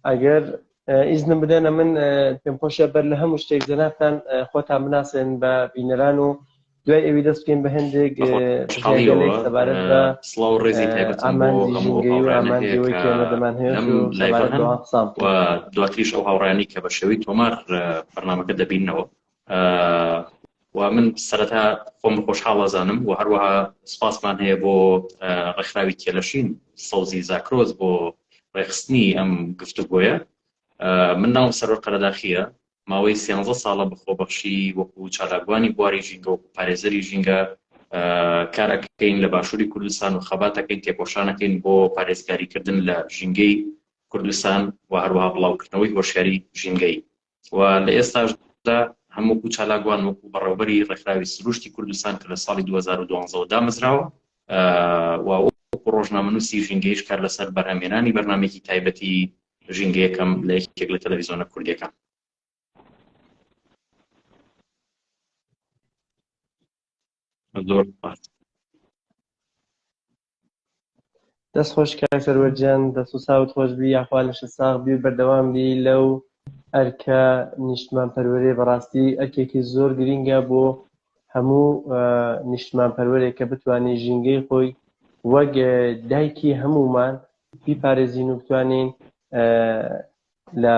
ئەگەر ئیزنم بدەنە من پێم خۆشە بەر لە هەموو شتێک جەنابتان خۆتان بناسێن بە بینەران و دوای ئەوی دەست بکەین بە هەندێک سەبارەت بە سڵاو ڕێزی تایبەت ئامانجیەوەیکێمەدەمان هەیە دواتریش ئەو هاوڕانی کە بە شێوەی تۆمار بەرنمەکە دەبینەوە و من سەرەتا خۆم خۆشحاڵ ئەزانم و هەروەها سپاسمان هەیە بۆ ڕێکخراوی کێلەشین سەوزی زاکرۆز بۆ ڕێخستنی ئەم گفتوگۆیە من ناوم سەرۆ قەرەداخیە ماوەی سیانزە ساڵە بەخۆبەخشی وەکو چالاکوانی بواری ژینگە و پارێزەری ژینگە کارەکەین لە باشووری کوردستان و خەباتەکەین تێکۆشانەکەین بۆ پارێزگاریکردن لە ژینگەی کوردستان و هەروەها بڵاوکردنەوەی هۆشیاری ژینگەی و لە ئێستاشدا هەم وەکو چالاک وان وەکو بەڕێوبەری ڕێکخراوی سروشتی کوردستان کە لە ساڵی 2012 دامەزراوە و وەکو ڕۆژنامەنووسی ژینگەیش کار لەسەر بەرهەمێنانی بەرنمێکی تایبەتی ژینگەیەکەم لە یەکێک لە تەلەڤیزۆنە کوردەکان زۆر سپاس. دەست خۆش کاک سەروەر گیان دەست و چاوت خۆش بی یاخوا لەشت ساغ بی و بەردەوام بی لەو ئەرکە نیشتمان پەروەرێ بەڕاستی ئەرکێکی زۆر گرینگە بۆ هەموو نیشتمان پەروەرێک کە بتوانین ژینگەی خۆی وەک دایکی هەمومان بیپارێزین و بتوانین لە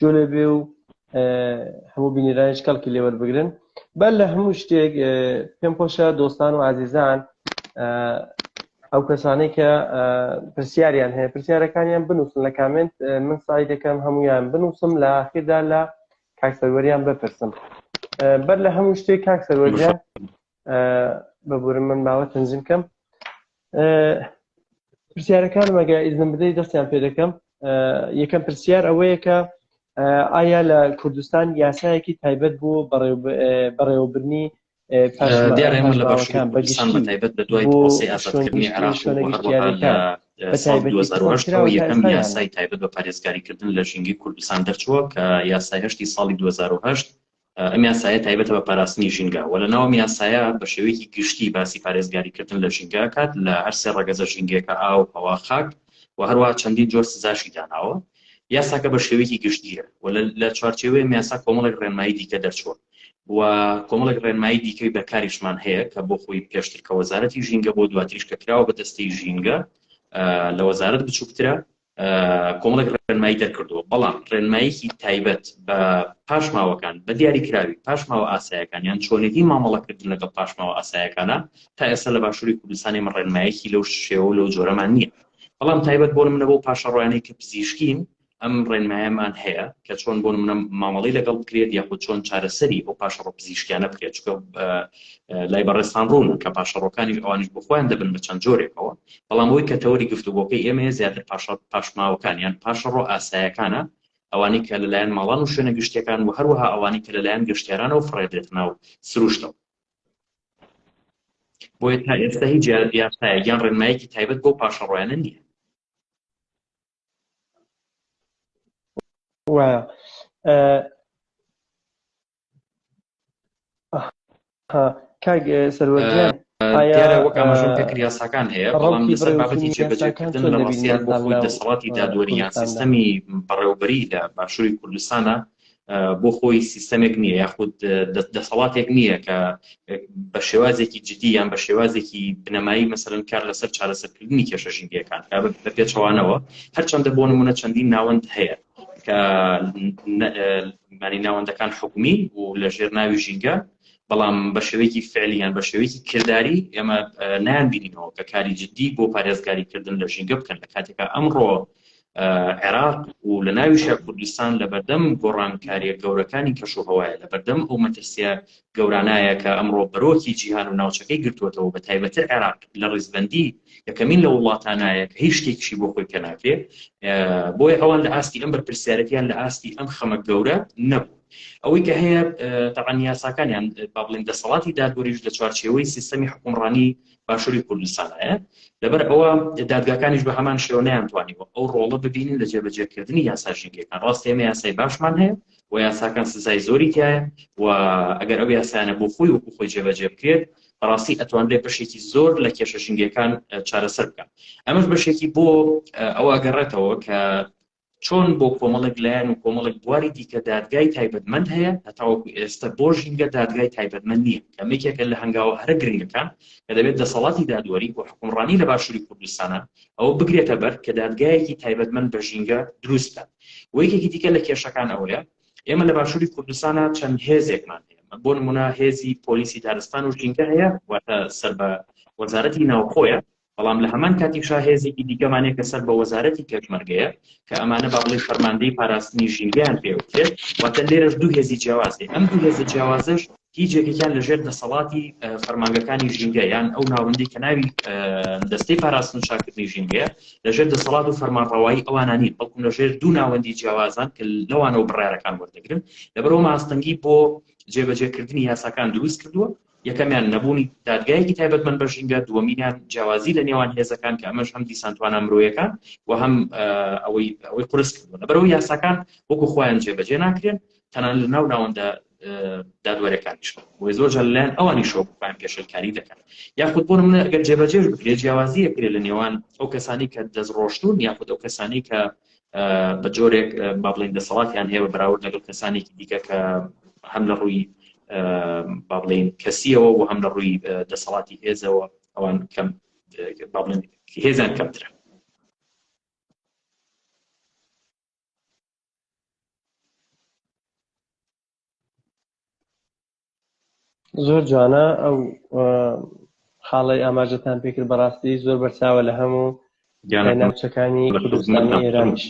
جۆنێ بێ و هەموو بینیرانش کەڵکی لێوەر بگرن بەر لە هەموو شتێک پێم خۆشە دۆستان و ئازیزان ئەو کەسانەی کە پرسیاریان هەیە پرسیارەکانیان بنووسن لە کامنت من سای دەکەم هەمویان بنووسم لە ئاخیردا لە کاکسەروەریان بپرسم بەر لە هەموو شتێک کاکسەروەریان بەبورم من ماوە تەنزیم کەم پرسیارەکانم ئەگە ئیزن بدەی دەستیان پێ دەکەم یەکەم پرسیار ئەوەیە کە ئایا لە کوردستان یاسایەکی تایبەت بوو بەڕێوەبرنی تایبەت بە دوای پرۆسی ئازادکردنی عراق یەکەم یاسای تایبەت بە پارێزگاریکردن لە ژینگی کوردستان دەرچووە کە یاسای هەشتی ساڵی 2010 ئەم یاسایە تایبەتە بە پاراستنی ژینگە و لەناو یاسایە بە شێوەیەکی گشتی باسی پارێزگاریکردن لە ژینگە کات لە هەرسێ ڕەگەزە ژینگەکە ئاو ئەوە خاک و هەروە چەندین جۆر سزاشی داناوە یاساکە بە شێوەیەکی گشتیە و لە چوارچێوەیە یاسا کۆمەڵێک ڕێنمایی دیکە دەرچووە و کۆمەڵێک ڕێنمایی دیکەی بەکاریشمان هەیە کە بۆ خۆی پێشتر کە وەزارەتی ژینگە بۆ دواتریش کە کراوە بە دەستەی ژینگە لە وەزارت بچووکترە کۆمەڵێک ڕێنمایی دەرکردووە، بەڵام ڕێنماییەکی تایبەت بە پاشماوەکان بە دیاریکراوی پاشماوە ئاسایەکان یان چۆنێتی مامەڵەکردن لەگەڵ پاشماوە ئاسایەکانە تا ئێستا لە باشووری کوردستانی من ڕێنمایەکی لەو شێوە لەو جۆرەمان نییە بەڵام تایبەت بۆ منە بۆ پاشەڕۆیانەی کە پزیشکین ئەم ڕێنمایەمان هەیە کە چۆن بۆ منە مامەڵی لەگەڵ بکرێت یاخود چۆن چارەسەری ئەو پاشەڕۆ پزیشکیانە بکرێت چکە لای بەڕێستان ڕوون کە پاشەڕۆکانی ئەوانش بخۆیان دەبن بە چەند جۆرێکەوە بەڵام ئەوەی کە تەوەری گفتوگۆکەی ئێمەیە زیاتر پاشە پاشماوەکان یان پاشەڕۆ ئاسایەکانە، ئەوانەی کە لەلایەن ماڵان و شوێنە گشتییەکان و هەروەها ئەوانەی کە لەلایەن گەشتیارانەوە فڕێدرێتە ناو سروشتەوە. بۆیە تا ئێستا هیچ یاسایەک یان ڕێنمایەکی تایبەت بۆ پاشەڕۆیانە نییە. وایە. کاک سەروەر گیان دیارە وەک ئاماژەم پێ کرد یاساکان هەیە بەڵام لەسەر بابەتی جێبەجێکردن لە ڕاستیا بۆ خۆی دەسەڵاتی دادوەری یان سیستەمی بەڕێوبەری لە باشووری کوردستانە بۆ خۆی سیستەمێک نییە یاخود دەسەڵاتێک نییە کە بە شێوازێکی جدی یان بە شێوازێکی بنەمایی مەسەرن کار لەسەر چارەسەرکردنی کێشە ژینگەکان بە پێچەوانەوە هەرچەندە بۆ نمونە چەندین ناوەند هەیە کە مانی ناوەندەکان حکومی و لە ژێر ناوی ژینگە بەڵام بە شێوەیەکی فعلیان بە شێوەیەکی کردداری ئێمە نان بینینەوە کە کاری جددی بۆ پارێزگاریکردن لە ژینگە بکەن لە کاتێکا ئەمڕۆ عێراق و لە ناویشە کوردستان لە بەردەم گۆڕانکاریە گەورەکانی کەش و هەوایە لە بەردەم ئەو مەترسیە گەورانایە کە ئەمڕۆ بەرۆکی جیهان و ناوچەکەی گرتۆتەوە بە تایبەتر عێراق لە ڕیزبەندی یەکەمین لە وڵاتانایە کە هیچ شتێکیشی بۆ خۆی پێناکرێ بۆیە ئەوان لە ئاستی ئەم بەرپرسیارەتیان لە ئاستی ئەم خەمە گەورە نەبوو ئەوەی کە هەیە تەعاان یاساکانیان با بڵین دەسەڵاتی دادوەریش لە چوارچێوەی سیستەمی حکومڕانی باشووری کوردستانایە لەبەر ئەوە دادگاکانیش بە هەمان شێوەیان توانیوە ئەو ڕۆڵە ببینین لە جێبەجێکردنی یاسا ژینگەکان ڕاستێمە یاسای باشمان هەیە و یاساکان سزای زۆری تایە و ئەگەر ئەو یاسایانە بۆ خۆی وەکو خۆی جێبەجێ بکرێت بەڕاستی ئەتوانرێ بەشێکی زۆر لە کێشە ژنگەکان چارەسەر بکەن ئەمەش بەشێکی بۆ ئەو ئەگەڕێتەوە کە چۆن بۆ کۆمەڵێک لایەن و کۆمەڵێک بواری دیکە دادگای تایبەتمەند هەیە هەتاوەکو ئێستا بۆ ژینگە دادگای تایبەتمەند نییە کەمێکێکە لە هەنگاوە هەرە گرنگەکان کە دەبێت دەسەڵاتی دادوەری و حکومڕانی لە باشووری کوردستانە ئەوە بگرێتە بەر کە دادگایەکی تایبەتمەند بە ژینگە دروستە و یەکێکی دیکە لە کێشەکان ئەوەیە ئێمە لە باشووری کوردستانە چەند هێزێکمان هەیە بۆ نمونە هێزی پۆلیسی دارستان و ژینگە هەیە واتە سەر بە وەزارەتی ناوخۆیە بەڵام لە هەمان کاتیشا هێزێکی دیکەمانێک کە سەر بە وەزارەتی پێشمەرگەیە کە ئەمانە باڵی فەرماندەی پاراستنی ژینگەیان پێوتێت واتە لێرەش دوو هێزی جیاوازێ ئەم دوو هێزە جیاوازش هیچ یەکێکیان لە ژێر دەسەڵاتی فەرمانگەکانی ژینگە یان ئەو ناوەندی کە ناوی دەستەی پاراستن چاکردنی ژینگەیە لە ژێر دەسەڵات و فەرمانڕەوایی ئەوانانی بەڵکم لە ژێر دوو ناوەندی جیاوازان کە لەوانەوە بڕارەکان وەردەگرن لەبەرەوە ماستەنگی بۆ جێبەجێکردنی یاساکان دروست کردووە یەکەمیان نەبوونی دادگایەکی تایبەتمەند بە ژینگە دووەمینیان جیاوازی لە نێوان هێزەکان کە ئەمەش هەم دیسانتوانە مرۆیەکان و هەم ئەوەی ئەوەی قرس کردوە لەبەرەوە یاساکان وەکو خۆیان جێبەجێ ناکرێن تەنانەت لە ناو ناوەندە دادوەرەکانیش بۆی زۆر جار لەلایەن ئەوانی شۆکوان پێشلکاری دەکەن یاخود بۆ منە گەر جێبەجێش بکرێت جیاوازیە کرێ لە نێوان ئەو کەسانی کە دەست ڕۆشتون یاخود ئەو کەسانی کە بە جۆرێک با بڵین دەسەڵاتیان هەیە بە بەراورد لەگەڵ کەسانێکی دیکە کە هەم لە ڕووی با بڵین کەسیەوە و هەم لە ڕووی دەسەڵاتی هێزەوە ئەوان کەم با بڵێن هێزان کەمترە زۆر جوانە ئەو خاڵی ئاماژەتان پێکرد بەڕاستی زۆر بەرچاوە لە هەموو ناوچەکانی کوردستانی ئێرانیش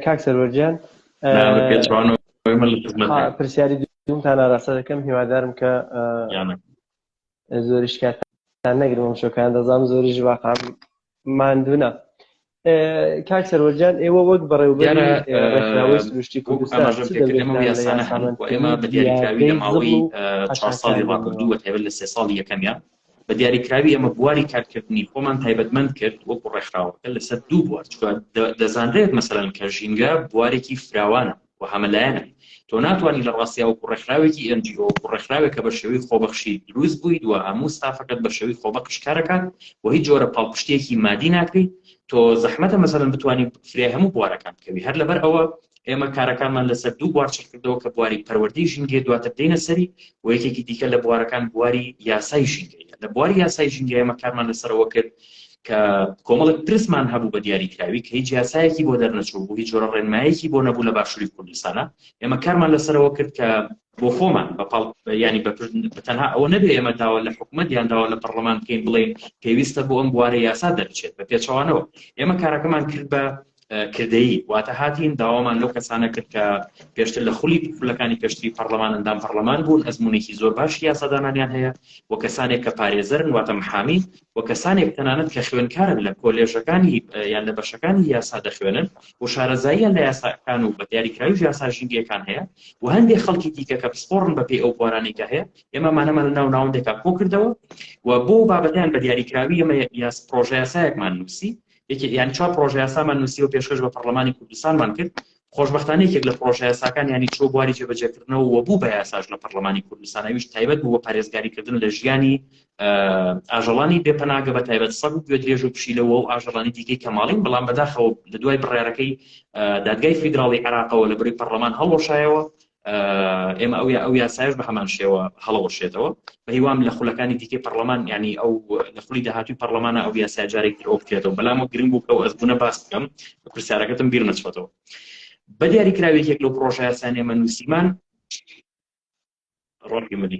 کاک سەرۆجیان پرسیاری دومتان ئاراستە دەکەم هیوادارم کە زۆریش کاتان نەگرم ئەم شۆکان دەزانم زۆریش واقعام ماندوونە کاک سەرۆجان ئێوە وەک بەڕێوبەرەوەی سروشتی کوردستانسانە ئێمە بە دیاریکراوی لە ماوەی چوار ساڵی ڕابردوو وە تێبەر لە سێ ساڵی یەکەمیان بە دیاریکراوی ئەمە بواری کارکردنی خۆمان تایبەتمەند کرد وەکو ڕێکخراوەکە لەسەر دوو بوار دەزانرێت مەسەرەن کە ژینگە بوارێکی فراوانە و هەمەلایەنە. تۆ ناتوانی لە ڕاستیا وەکو ڕێکخراوێکی ئێن جی ئۆ، وەکو ڕێکخراوێک کە بە شێوەی خۆبەخشی دروست بوویت و هەموو ستافەکەت بە شێوەی خۆبەخش کار ئەکات و هیچ جۆرە پاڵپشتییەکی مادی ناکەیت، تۆ زەحمەتە مەسەلەن بتوانی فریای هەموو بوارەکان بکەوی. هەر لەبەر ئەوە ئێمە کارەکانمان لەسەر دوو بوار چڕکردەوە کە بواری پەروەردەی ژینگەیە دواتر دێینە سەری و یەکێکی دیکە لە بوارەکان بواری یاسای ژینگەیە. لە بواری یاسای ژینگە ئێمە کارمان لەسەرەوە کرد کە کۆمەڵێک پرسمان هەبوو بە دیاری کراوی کە هیچ یاسایەکی بۆ دەرنەچوو بوو هیچ جۆرە ڕێنمایەکی بۆ نەبوو لە باشووری کوردستانە ئێمە کارمان لەسەرەوە کرد کە بۆ خۆمان بەپڵ ینی بەتەنها ئەوە نەبێ ئێمە داوا لە حکوومەت یان داوا لە پەرلەمان بکەین بڵێن پێویستە بۆ ئەم بوارە یاسا دەرچێت بە پێچەوانەوە ئێمە کارەکەمان کرد بە کردەیی واتە هاتین داوامان لەو کەسانە کرد کە پێشتر لە خولی خولەکانی پێشتری پەرلەمان ئەندام پەرلەمان بوون ئەزمونێکی زۆر باش یاسادانانیان هەیە و کەسانێک کە پارێزەرن واتە محامی و کەسانێک تەنانەت کە خوێنکارن لە کۆلێژەکانی یان لە بەشەکانی یاسا دەخوێنن و شارەزاییان لە یاساکان و بە دیاریکراوی یاسا ژینگەکان هەیە و هەندێک خەڵکی دیکە کە پسپۆڕن بە پێی ئەو بوارانێکە هەیە ئێمە مانەمان لە ناو ناوەندێکا کۆ کردەوە و بۆ بابەتیان بە دیاریکراوی ئەمە یاس پرۆژە یاسایەکمان نووسی یەکێک یان چوار پرۆژە یاسامان نووسی و پێشکەش بە پەرلەمانی کوردستانمان کرد خۆشببختانە یەکێک لە پرۆژە یاساکان ینی چۆ بواری جێبەجێکردنەوە و بوو بە یاساش لە پەرلەمانی کوردستانەویش تایبەت بوو بە پارێزگاریکردن لە ژیانی ئاژەڵانی بێپەناگە بە تایبەت سەگ و گوێ درێژ و پشیلەوە و ئاژەڵانی دیکەی کەماڵین بەڵام بەداخەوە لە دوای بڕارەکەی دادگای فیدراڵی عراقەوە لە بری پەرلەمان هەڵۆشایەوە ئێمە ئەو یا ئەو یاسایش بە هەمان شێوە هەڵەوەشێتەوە بەهیوام لە خولەکانی دیکەی پەرلەمان ینی ئەو لە خولی داهاتوی پەرلەمانە ئەو یاسای جارێک ئەو بکرێتەوە بەلام و گرنگ بوو کە ئەس بوونە باس بکەم پرسیارەکەتم بیر نەچۆتەوە بە دیاری کراوێک یەک لەو پرۆژە یاسانێمە نووسیمان ڕۆکی مدی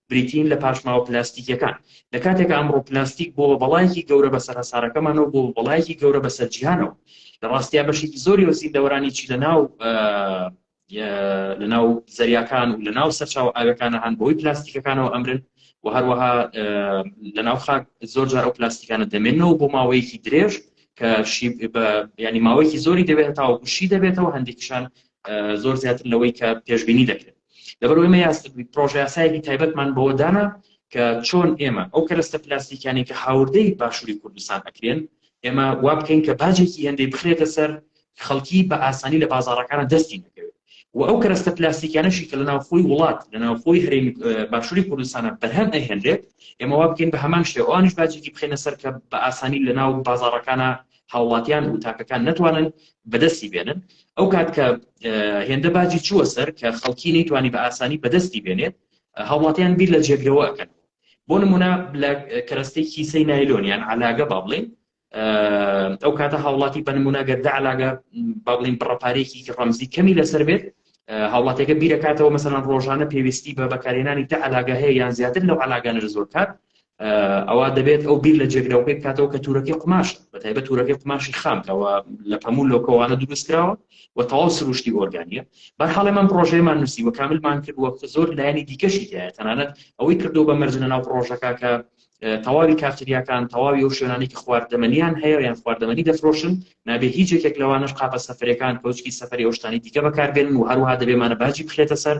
بریتین لە پاشماوە پلاستیکیەکان لە کاتێکا ئەمڕۆ پلاستیک بۆ بەڵایەکی گەورە بەسەر هەسارەکەمانەوە بۆ بەڵایەکی گەورە بەسەر جیهانەوە لە ڕاستیا بەشێکی زۆری و زیندەوەرانی چی لە ناو لە ناو زەریاکان و لە ناو سەرچاو ئاوەکانە هەان بۆی پلاستیکەکانەوە ئەمرن و هەروەها لە ناو خاک زۆر جار ئەو پلاستیکانە دەمێنەوە بۆ ماوەیەکی درێژ کە ینی ماوەیەکی زۆری دەبێت تاوەکوشی دەبێتەوە هەندێکیشان زۆر زیاتر لەوەی کە پێشببینی دەکرێت لەبەر ئێمە یاستی پرۆژیاسایەکی تایبەتمان بەوە دانا کە چۆن ئێمە ئەو کەرەستە پلاستیکانی کە هاوردەی باشووری کوردستان ئەکرێن ئێمە وا بکەین کە باجێکی هێندەی بخرێتە سەر خەڵکی بە ئاسانی لە بازارەکانە دەستی نەکەوێت و ئەو کەرەستە پلاستیکانەشی کە لە ناوخۆی وڵات لە ناوخۆی هەرێمی باشووری کوردستانە بەرهەم ئەهێنرێت ئێمە وا بکەین بە هەمان شێوانش باجێکی بخێنە سەر کە بە ئاسانی لە ناو بازارەکانە هاوڵاتیان و تاکەکان نەتوانن بەدەستی بێنن ئەو کات کە هێندە باجی چووە سەر کە خەڵکی نەیتوانی بە ئاسانی بەدەستی بێنێت هاوڵاتیان بیر لە جێگرەوە ئەکەن بۆ نمونە لە کەرەستەی کیسەی نایلۆنیان علاگە با بڵێن ئەو کاتە هاوڵاتی بە نمونەگەر داعلاگە با بڵین بڕەپارێکی ڕەمزی کەمی لەسەر بێت هاوڵاتیەکە بیرەکاتەوە مەسەلەن ڕۆژانە پێویستی بە بەکارهێنانی دە علاگە هەیە یان زیاتر لەو علاگانەر زۆر کات ئەوە دەبێت ئەو بیر لە جێگرەوەی بکاتەوە کە تورەکەی قماش بە تایبە تورەکەی قماشی خامکەوە لە پەموو لۆکەوانە دروستکراوە و تەواو سروشتی ئۆرگانیە بەرحاڵێ من پرۆژەیەمان نووسی و کاملمان کرد وەکو زۆر لایەنی دیکەشی دایە تەنانەت ئەوەی کردو بە مەرجە ناو پرۆژەکە کە تەواوی کافتریاکان تەواوی ئەو شوێنانی کە خواردەمەنیان هەیە یان خواردەمەنی دەفرۆشن نابێ هیچ یەکێک لەوانش قاپە سەفرەکان کەوچکی سەفری ئەوشتانی دیکە بەکاربێن و هەروها دەبێمانە باجی بخرێتە سەر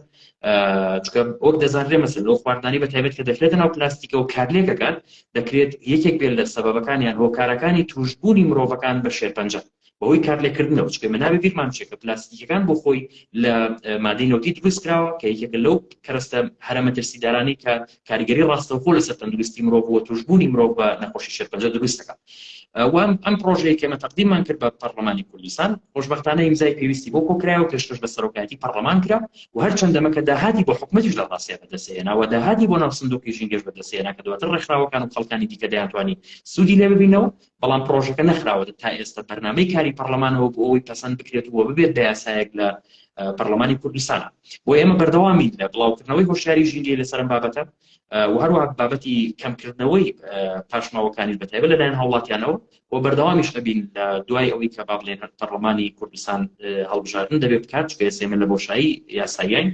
چکە وەک دەزانرێ مەسن لەو خواردانی بە تایبەت کە دەخرێتە ناو پلاستیکە و کارلێکەکان دەکرێت یەکێک بێت لە سەبەکان یان هۆکارەکانی توشببوونی مرۆڤەکان بە شێرپەنجە بەهۆی کارلێککردنەوە چکە مە نابێ بیرمان بچێت کە پلاستیکەکان بۆ خۆی لە مادەی نەوتی دروست کراوە کە یەکێکە لەو کەرەستە هەرە مەترسیدارانی کە کاریگەری ڕاستەوخۆ لەسەر تەندروستی مرۆڤ و توشبوونی مرۆڤ بە نەخۆشی شێرپەنجە دروست دەکات وام ئەم پرۆژەیە کێمە تەقدیممان کرد بە پەرلەمانی کوردستان خۆشببختانە ئیمزای پێویستی بۆ کۆکرای و پێشکەش بە سەرۆکایەتی پەرلەمان کرا و هەر چنددەمەکە داهاتی بۆ حکومەتیش لە ڕاستە بەدەسێناوە داهاتی بۆ ناو سندوقی ژینگەش بەدەسێنا کە دواتر ڕێکخراوەکان و خەڵکانی دیکە دەیانتوانی سوودی لێ ببینەوە بەڵام پڕۆژەکە نەخراوەتە تا ئێستا بەرنامەی کاری پەڕلەمانەوە بۆ ئەوەی پەسەند بکرێت و ببێت بە یاسایەک لە پەرلەمانی کوردستان بۆ ئێمە بەردەوامین لە بڵاوکردنەوەی هۆشیاری ژینگەی لەسەرم بابەتە و هەروە بابەتی کەمکردنەوەی پاشماوەکانی بەتایبە لەلایەن هاوڵاتیانەوە و بەردەوامیش ئەبین لە دوای ئەوەی کە با بڵێن پەرلەمانی کوردستان هەڵبژاردن دەبێت بکات چکە سێمە لە بۆشایی یاساییان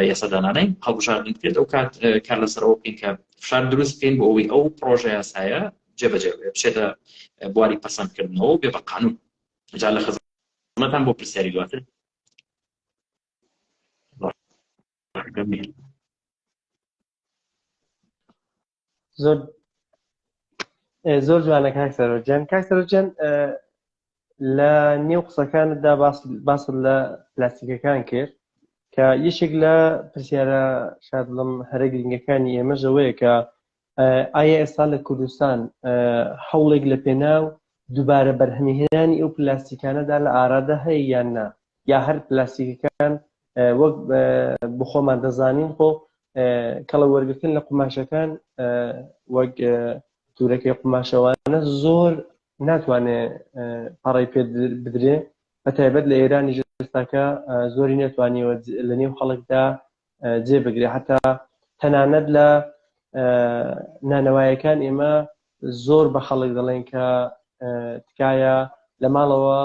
یاسادانانەی هەڵبژاردن بکرێت ئەو کات کار لەسەرەوە بکەین کە فشار دروست بکەین بۆ ئەوەی ئەو پرۆژە یاسایە جێبەجێ بچێتە بواری پەسەندکردنەوە و بێ بە قانون جا لە خزمەتان بۆ پرسیاری دواتر زۆر زۆر جوانە کاک سەرۆجان کاک سەرۆجان لە نێو قسەکانتدا باس لە پلاستیکەکان کرد کە یەکێک لە پرسیارە شادڵم هەرە گرنگەکانی ئێمە ژەوەیە کە ئایا ئێستا لە کوردستان هەوڵێک لە پێناو دووبارە بەرهەمیهێنانی ئەو پلاستیکانەدا لە ئارادا هەیە یان نا یا هەر پلاستیکەکان وەک بخۆمان دەزانین خۆ کەڵە وەرگتن لە قوماشەکان وەک تورەکەی قوماشەوانە زۆر ناتوانێت پەڕی پێ بدرێ بە تایبەت لە ئێرانی ژستاکە زۆری نێتوانیەوە لە نێو خەڵکدا جێ بگرێ هەتا تەنانەت لە نانەوایەکان ئێمە زۆر بە خەڵک دەڵێن کە تکایە لە ماڵەوە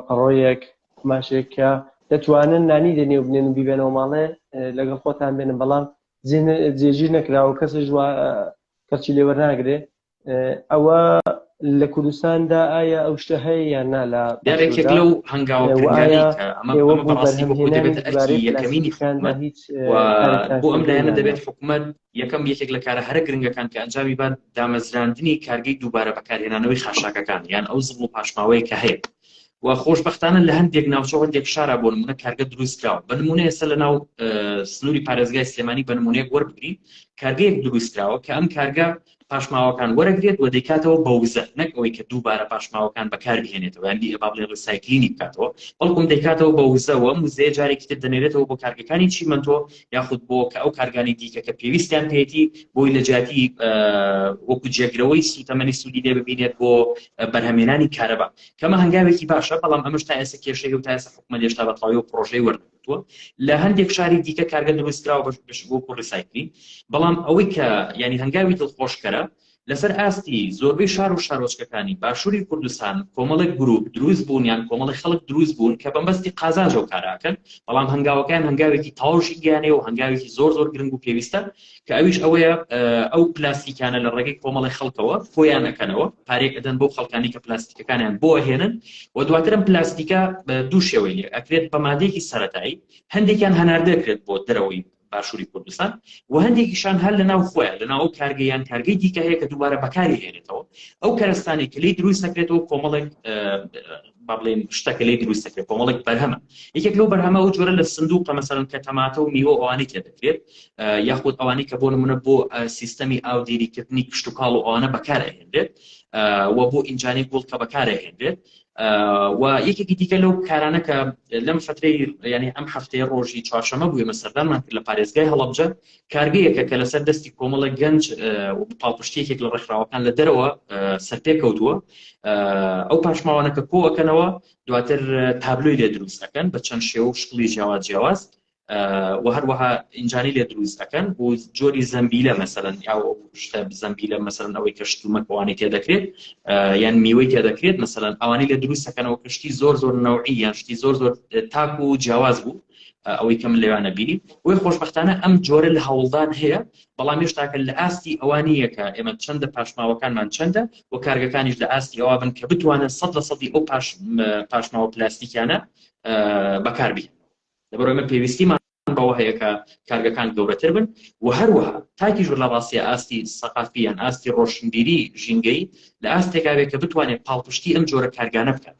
پڕۆیەک قماشێک کە دەتوانن نانی لە نێو بنێن و بیبێنەوە ماڵێ لەگەڵ خۆتان بێنن بەڵام جێژیر نەکراوە کەسش کەچی لێوەرناگرێ ئەوە لە کوردستاندا ئایا ئەو شتە هەیە یان نا لە دەرێکێک لەو هەنگاوە یەکەمینی خانمان هیچ بۆ ئەم لایەنە دەبێت حکوومەت یەکەم یەکێک لە کارە هەرە گرنگەکان کە ئەنجامی بات دامەزراندنی کارگەی دووبارە بەکارهێنانەوەی خاشاکەکان یان ئەو زڵ و پاشماوەیە کە هەیە و خۆشببختانە لە هەندێک ناوچە هەندێک شارە بۆ نمونە کارگە دروستکراوە بە نمونە ئێستا لە ناو سنووری پارێزگای سلێمانی بە نمونەیەک وەربگری کارگەیەک دروستکراوە کە ئەم کارگە پاشماوەکان وەرەگرێت و دەیکاتەوە بە وزە نەک ئەوەی کە دووبارە پاشماوەکان بەکاربهێنێتەوە یاندی ئەبا بڵێ ڕسایکلینی بکاتەوە بەڵکم دەیکاتەوە بە وزەوە وزەیە جارێکی تر دەنێرێتەوە بۆ کارگەکانی چیمەنتۆ یاخود بۆ کە ئەو کارگانی دیکە کە پێویستیان پێێتی بۆی لە جیاتی وەکو جێگرەوەی سوتەمەنی سوودی لێ ببینێت بۆ بەرهەمێنانی کارەبا کەمە هەنگاوێکی باشە بەڵام ئەمەش تا ئێستا کێشەی و تا ئێستا حکومە لێشتا بەتەواوی و پرۆژەی وەرن کردووە لە هەندێک شاری دیکە کارگە دروستکراوە بەش بەش بۆ بۆ ڕیسایکلین بەڵام ئەوەی کە یعنی هەنگاوی دڵخۆشکەرە لەسەر ئاستی زۆربەی شار و شارۆچکەکانی باشووری کوردستان کۆمەڵێک گروپ دروست بوون یان کۆمەڵی خەڵک دروست بوون کە بەمبەستی قازانجەوە کاراکەن بەڵام هەنگاوەکان هەنگاوێکی تەواوشی گیانەیە و هەنگاوێکی زۆر زۆر گرنگ و پێویستە کە ئەویش ئەوەیە ئەو پلاستیکانە لە ڕێگەی کۆمەڵی خەڵکەوە خۆیان ئەکەنەوە پارێک ئەدەن بۆ خەڵکانی کە پلاستیکەکانیان بۆ هێنن و دواترم پلاستیکە دوو شێوەی لێ ئەکرێت بە مادەیەکی سەتایی هەندێکیان هەناردەکرێت بۆ دەرەوەی باشووری کوردستان و هەندێکیشان هەر لە ناو خۆیان لە ناو کارگەیان کارگەی دیکە هەیە کە دووبارە بەکاری هێنێتەوە ئەو کەرستانی کلی دروست نەکرێتەوە کۆمەڵێک با بڵێین شتەکە لێی دروست دەکرێت کۆمەڵێک بەرهەمە یەکێک لەو بەرهەمە ئەو جۆرە لە سندوقە مەسەرن کە تەماتە و میوە ئەوانی تێ دەکرێت یاخود ئەوانی کە بۆ نمونە بۆ سیستەمی ئاودێریکردنی کشتتوکاڵ و ئەوانە بەکارهێنرێت و بۆ ئینجانی گوڵ کە بەکارهێنرێت و یەکێکی دیکە لەو کارانە کە لەم فترەی ینی ئەم هەفتەیە ڕۆژی چوارشەمە بووێمە سەردانمان کرد لە پارێزگای هەڵبجە کارگەیەکە کە لەسەر دەستی کۆمەڵێک گەنج و پاڵپشتی یەکێک لە ڕێکخراوەکان لە دەرەوە سەرپێ کەوتووە ئەو پاشماوانە کە کۆەکەنەوە دواتر تابلۆی لێ دروست ئەەکەن بە چەند شێوە و شکڵی جیاواز جیاواز و هەروەها ئینجانی لێ دروست ئەەکەن بۆ جۆری زەمبیلە مەسەرەن یا شتە زەمبیلە مەسەرەن ئەوەی کە شتومەکەوانی تێ دەکرێت یان میوەی تێ دەکرێت مەسەرەن ئەوانی لە دروستەکەنەوە کەشتی زۆر زۆر نەوعی یان شتی زۆر زۆر تاک و جیاواز بوو ئەوەی کە من لەوانە بینی وی خۆشببختانە ئەم جۆرە لە هەوڵدان هەیە بەڵام هێشتاکە لە ئاستی ئەوانیەکە ئێمە چەندە پاشماوەکانمان چەندە و کارگەکانیش لە ئاستی ئەوە بن کە بتوانن سەد لە سەدی ئەو پاش پاشماوە پلاستیکیانە بەکاربی لەبەرۆی من پێویستیمان بەوە هەیە کە کارگەکان گەورەتر بن و هەروەها تاکیش لە ڕاستە ئاستی سەقافیان ئاستی ڕۆشنبیری ژینگەی لە ئاستێکاوێت کە بتوانێت پاڵپشتی ئەم جۆرە کارگانە بکات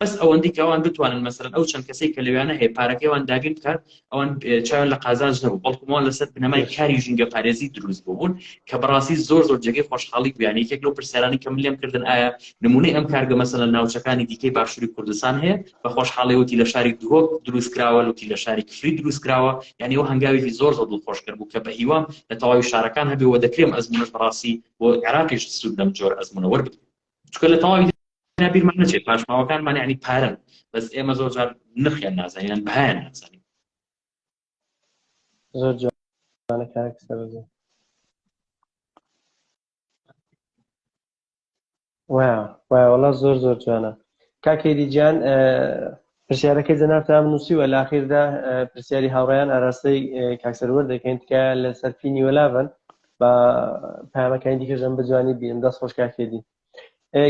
بەس ئەوەندی کە ئەوان بتوانن مەسەرەن ئەو چەند کەسێک کە لەویانە هەیە پارەکەیوان دابین بکات ئەوان چاویان لە قازانج نەبوو بەڵکومان لەسەر بنەمای کاری ژینگە پارێزی دروست بوون کە بەڕاستی زۆر زۆر جێگەی خۆشحاڵی بوویان یەکێک لەو پرسیارانی کە من لێم کردن ئایا نمونەی ئەم کارگە مەسەلە ناوچەکانی دیکەی باشووری کوردستان هەیە بە خۆشحاڵی وتی لە شاری دهۆک دروست کراوە لوتی لە شاری کفری دروست کراوە یعنی ئەو هەنگاوێکی زۆر زۆر دڵخۆش کرد بوو کە بە هیوام لە تەواوی شارەکان هەبێ و دەکرێم ئەزمونەش بەڕاستی بۆ عێراقیش سوود لەم جۆر ئەزمونە وەربگرم چونکە لە تەواوی دنیا بیرمان نەچێت پاشماوەکانمان یعنی پارەن بەس ئێمە زۆر جار نرخیان نازانین یان بەهایان نازانین زۆر جوانە کارێک سەرزە وایە وایە وەڵا زۆر زۆر جوانە کاکێری جان پرسیارەکەی جەنابتانم نووسیوە لە ئاخیردا پرسیاری هاوڕێیان ئاراستەی کاک سەروەر دەکەین تکایە لەسەر پی نیوەلا بن با پامەکانی دیکەشم بە جوانی بینم دەست خۆش کاک هێدی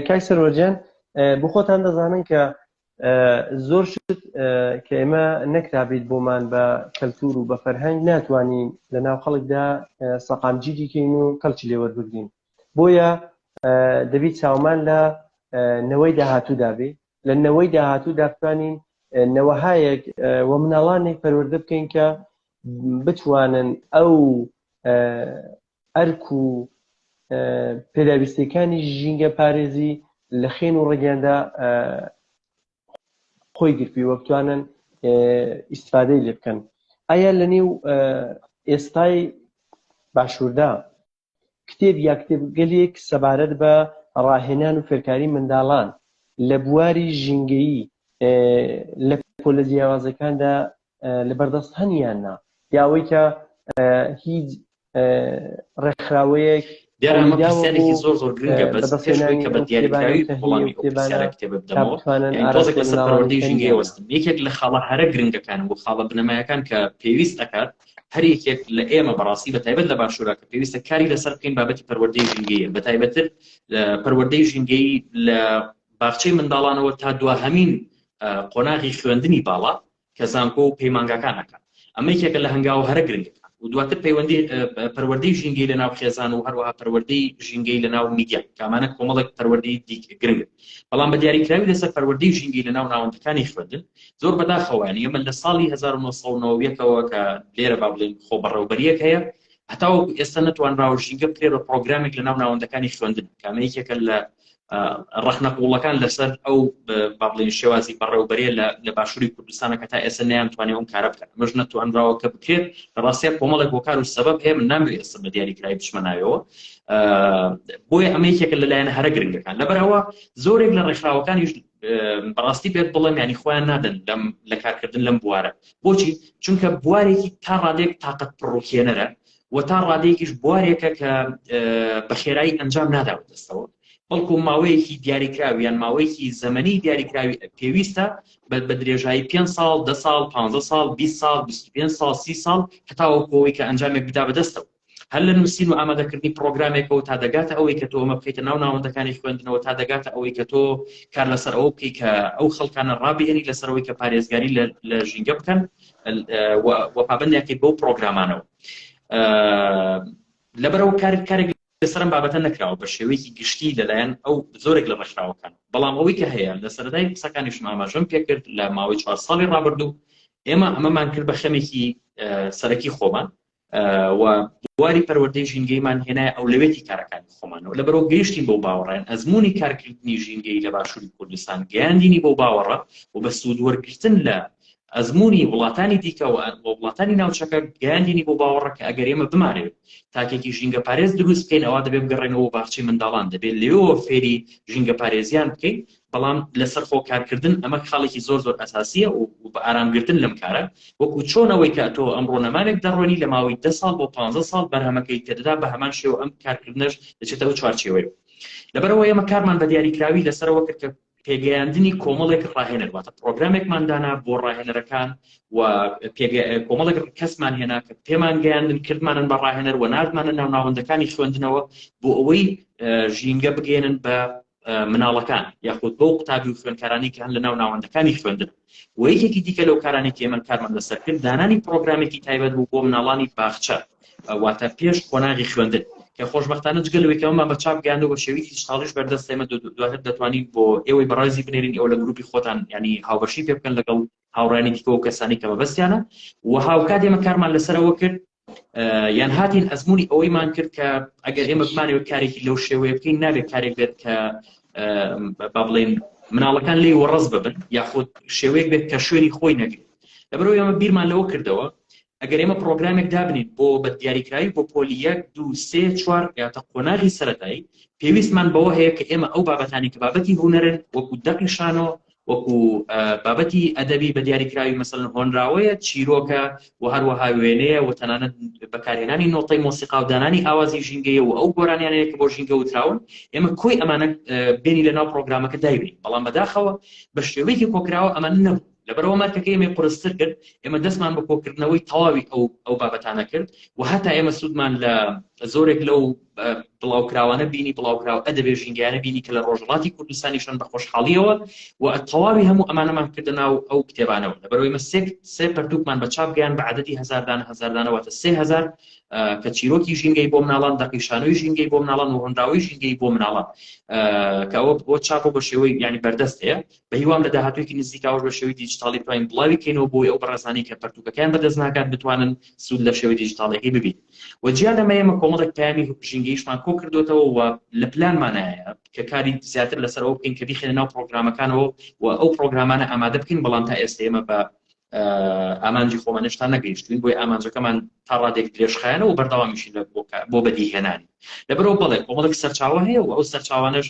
کاک سەروەر گیان بۆ خۆتان دەزانن کە زۆر شت کە ئێمە نەکرابیت بۆمان بە کەلتور و بە فەرهەنگ ناتوانین لە ناو خەڵکدا سەقامگیری کەین و کەلکی لێوەربگرین بۆیە دەبیت چاومان لە نەوەی داهاتوودا بێ لە نەوەی داهاتوو دابتوانین نەوەهایەک و مناڵانێک پەروەردە بکەین کە بتوانن ئەو ئەرک و پێداویستەکانی ژینگە پارێزی لە خێن و ڕگەندا خۆی گرپی وە بتوانن ئیسفادەی لێ بکەن ئایا لە نێو ئێستای باشووردا کتێب یا کتێبگەلێک سەبارەت بە ڕاهێنان و فێرکاری منداڵان لە بواری ژینگەیی لە پۆلە جیاوازەکاندا لە بەردەست هەنیان نا یاوەی کە هیچ ڕێکخراوەیەک دیارەمەسیارێکی زۆر زۆر گرنگە بەس پێشەوەی کە بە دیاریکراوی وڵامی کتێبانە کتێبە بدەمەوە تۆزێک لەسەر پەروەردەی ژینگەی وەستم یەکێک لە خاڵە هەرە گرنگەکان و خاڵە بنەمایەکان کە پێویست ئەکات هەر یەکێک لە ئێمە بەڕاستی بە تایبەت لە باشوورا کە پێویستە کاری لەسەر بکەین بابەتی پەروەردەی ژینگەیە بە تایبەتتر پەروەردەی ژینگەی لە باخچەی منداڵانەوە تا دواهەمین قۆناغی خوێندنی باڵا کە زانکۆ و پەیمانگاکانەکە ئەمە یەکێکە لە هەنگاوە هەرە گرنگەکان و دواتر پەیوەندی پەروەردەی ژینگەی لە ناو خێزان و هەروەها پەروەردەی ژینگەی لە ناو میدیا کامانە کۆمەڵێک پەروەردەی دیکە گرنگ بەڵام بە دیاریکراوی لەسەر پەروەردەی ژینگەی لە ناو ناوەندەکانی خوێندن زۆر بەداخەوە یانی ئێمە لە ساڵی هەزار و نۆ سەد و نەوە یەکەوە کە لێرە با بڵێین خۆبەڕێوەبەریەک هەیە هەتاوەکو ئێستا نەتوانراوە ژینگە بکرێت بە پرۆگرامێک لە ناو ناوەندەکانی خوێندن کە ئەمە یەکێکە لە ڕەخنە قوڵەکان لەسەر ئەو با بڵێن شێوازی بەڕێوبەرێ لە باشووری کوردستانە کە تا ئێستا نەیانتوانێ ئەم کارە بکەن مەژ نەتوانراوە کە بکرێت لە ڕاستە کۆمەڵێک هۆکار و سەبەب هەیە من نامەوێت ئێستا بە دیاریکرای بچمە ناوەوە بۆیە ئەمە یەکێکە لەلایەن هەرە گرنگەکان لەبەرەوە زۆرێک لە ڕێکخراوەکانیش بەڕاستی پێت بڵێم یانی خۆیان نادەن لەم لە کارکردن لەم بوارە بۆچی چونکە بوارێکی تا ڕادێک تااقەت پڕۆکێنەرە و تا ڕادێکیش بوارێکە کە بە خێرایی ئەنجام ناداوە دەستەوە بەڵکو ماوەیەکی دیاریکراویان ماوەیەکی زەمەنی دیاریکراوی پێویستە بە بە درێژایی پێ ساڵ ده ساڵ پ ساڵ 20 ساڵ 25 ساڵ سی ساڵ هەتاوە کۆی کە ئەنجامێک بدا بەدەستەوە هەر لە نووسین و ئامادەکردنی پڕۆگرامێکەوە تا دەگاتە ئەوەی کە تۆ ئەمە بخەیتە ناو ناوەندەکانی خوێندنەوە تا دەگاتە ئەوەی کە تۆ کار لەسەر ئەوە بکەیت کە ئەو خەڵکانە ڕابێنی لەسەرەوەی کە پارێزگاری لە ژینگە بکەن وە پابندیاکەی بەو پرۆگرامانەوە لەبەرەوە کار کارێک لەسەرم بابەتە نەکراوە بە شێوەیەکی گشتی لەلایەن ئەو زۆرێک لە ڕێکخراوەکان بەڵام ئەوەی کە هەیە لە سەردای قسەکانیش ماماژەم پێکرد لە ماوەی چوار ساڵی ڕابردوو ئێمە ئەمەمان کرد بە خەمێکی سەرەکی خۆمان و بواری پەروەردەی ژینگەیمان هێنایە ئەولەوێتی کارەکانی خۆمانەوە لەبەرەوە گەیشتین بۆ باوەڕێن ئەزمموی کارکردنی ژینگەی لە باشووری کوردستان گەیاندینی بۆ باوەڕە و بە سوودوەرگتن لە ئەزمموی وڵاتانی دیکە و وڵاتانی ناوچەکە گەیاندینی بۆ باوەڕە کە ئەگەر ئێمە بمانێت تاکێکی ژینگە پارێز دروست بکەین ئەوە دەبێت بگەڕێنەوە باشی منداڵان دەبێت لێەوە فێری ژینگە پارێزیان بکەین بەڵام لەسەر خۆ کارکردن ئەمە خاڵێکی زۆر زۆر ئەساسیە و بە ئارام گرتن لەم کارە وەکو چۆنەوەی کە تۆ ئەم ڕۆنەمانێک دەڕۆنی لە ماوەی دە ساڵ بۆ پ ساڵ بەرهەمەکەی تێدەدا بە هەمان شێوە ئەم کارکردنەش دەچێتە ئەو چوارچێوەیە لەبەرەوە ئێمە کارمان بە دیاریکراوی لەسەرەوە کرد کە پێگەیاندنی کۆمەڵێک ڕاهێنەر واتە پرۆگرامێکماندانا بۆ ڕاهێنەرەکان و کۆمەڵێک کەسمان هێنا کە پێمان گەیاندن کردمانن بە ڕاهێنەر و نردمانە ناوناوەندەکانی خوێندنەوە بۆ ئەوەی ژینگە بگەێنن بە مناڵەکان یاخود بەو قوتابی و خوێنکارانی کە هەن لە ناو ناوەندەکانی خوێندن و یەکێکی دیکە لەو کارانی تێمە کارمان لەسەر کرد دانانی پرۆگرامێکی تایبەت بوو بۆ مناڵانی باخچە واتە پێش قۆناغی خوێندن کە خۆشببختانە جگەلەوەیکەمەمان بە چاپ گەیاندو بە شێوی دیجتاڵیش بەردەست ئێمە دواتر دەتوانین بۆ ئێوەی بەڕازی بنێرین ئەو لە گروپی خۆتان ینی هاوبەشی پێ بکەن لەگەڵ هاوڕانی دیکەەوە کەسانی کە بەبستیانە و هاوکات ئێمە کارمان لەسەرەوە کرد یان هاتین ئەزمونی ئەوەیمان کرد کە ئەگەر ئێمە بمانەوە کارێکی لەو شێوەیە بکەین نابێت کارێک بێت کە با بڵێن مناڵەکان لی وەڕز ببن یاخود شێوەیەک بێت کە شوێنی خۆی نەگرێت لەبەرو ئێمە بیرمان لەوە کردەوە ئەگەر ئێمە پرۆگرامێک دابنین بۆ بە دیاریکراوی بۆ پۆلی یەک دو سێ چوار یاتە قۆناغی سەتایی پێویستمان بەوە هەیە کە ئێمە ئەو بابەتانی کە بابەتی هوەرن وەکو دەقی شانۆ وەکو بابەتی ئەدەبی بە دیاریکراوی مەسەلەن هۆنراوەیە، چیرۆکە و هەروەها وێنەیە و تەنانەت بەکارهێنانی نۆتەی مۆسیقا و دانانی ئاوازی ژینگەیە و ئەو گۆرانیانەیە کە بۆ ژینگە وتراون، ئێمە کۆی ئەمانە بێنی لە ناو پڕۆگرامەکە دایبەین، بەڵام بەداخەوە بە شێوەیەکی کۆکراوە ئەمانە نەبوو، لەبەرئەوە مارکەکە ئێمەی قورستر کرد، ئێمە دەستمان بە کۆکردنەوەی تەواوی ئەو ئەو بابەتانە کرد و هەتا ئێمە سوودمان لە زۆرێک لەو بڵاوکراوانە بینی بڵاوکراوە ئەدەبێ ژینگەیانە بینی کە لە ڕۆژهڵاتی کوردستانیشن بە خۆشحاڵیەوە و تەواوی هەموو ئەمانەمان کردە ناو ئەو کتێبانەوە لەبەرەوەی مە سێک سێ پەرتوکمان بە چاپگەیان بە عادەتی هزاردان هزاردانەوەتە سێ هزار کە چیرۆکی ژینگەی بۆ مناڵان دەقیشانەوەی ژینگەی بۆ مناڵان و هەنراوی ژینگەی بۆ مناڵان کە ئەوە بۆ چاپۆ بە شێوەی ینی بەردەستەیە بە هیوام لە داهاتوێکی نزیکاوە بە شێوی دیجیتاڵی بتوانین بڵاوی کەینەوە بۆی ئەو بەڕێزانانی کە پەرتوکەکەیان بەدەست ناکات بتوانن سوود لە شێوی دیجیتاڵەکەی ببین و جیا لەمە ئێمە کۆمەڵێک پەیامی هەوپژینگەیشمان کۆ کردۆتەوە و لە پلانمانایە کە کاری زیاتر لەسەر ئەوە بکەین کە بیخێنە ناو پرۆگرامەکانەوە و ئەو پرۆگرامانە ئامادە بکەین بەڵام تا ئێستا ئێمە بە ئامانجی خۆمانشتان نەگەیشتوین بۆی ئامانجەکەمان تا ڕادێک درێژخایەنە و بەردەوامیشی لە بۆ بەدیهێنانی لەبەرەوە بڵێ کۆمەڵک سەرچاوە هەیە و ئەو سەرچاوانش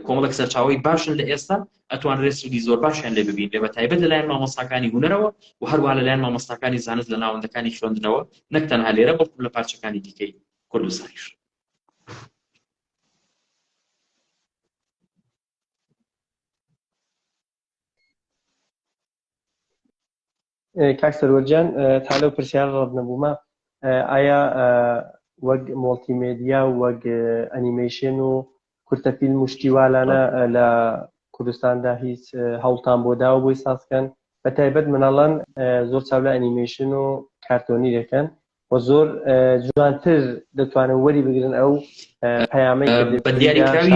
کۆمەڵێک سەرچاوەی باشن لە ئێستا ئەتوانرێت سودی زۆر باشیان لێ ببینرێ بە تایبەت لەلایەن مامۆستاکانی هونەرەوە و هەروە لەلایەن مامۆستاکانی زانست لە ناوەندەکانی خوێندنەوە نەک تەنها لێرە بەڵکو لە پارچەکانی دیکەی کوردستانیش کاک سەروەر گیان تا لەو پرسیارە ڕەت نەبوومە ئایا وەک مۆڵتیمێدیا و وەک ئەنیمەیشن و کورتە فیلم و شتیوالانە لە کوردستاندا هیچ هەوڵتان بۆ داوە بۆی سازکەن بە تایبەت مناڵان زۆر چاو لە ئەنیمەیشن و کارتۆنی دەکەن و زۆر جوانتر دەتوانن وەری بگرن ئەو پەیامەی بە دیاری کراوی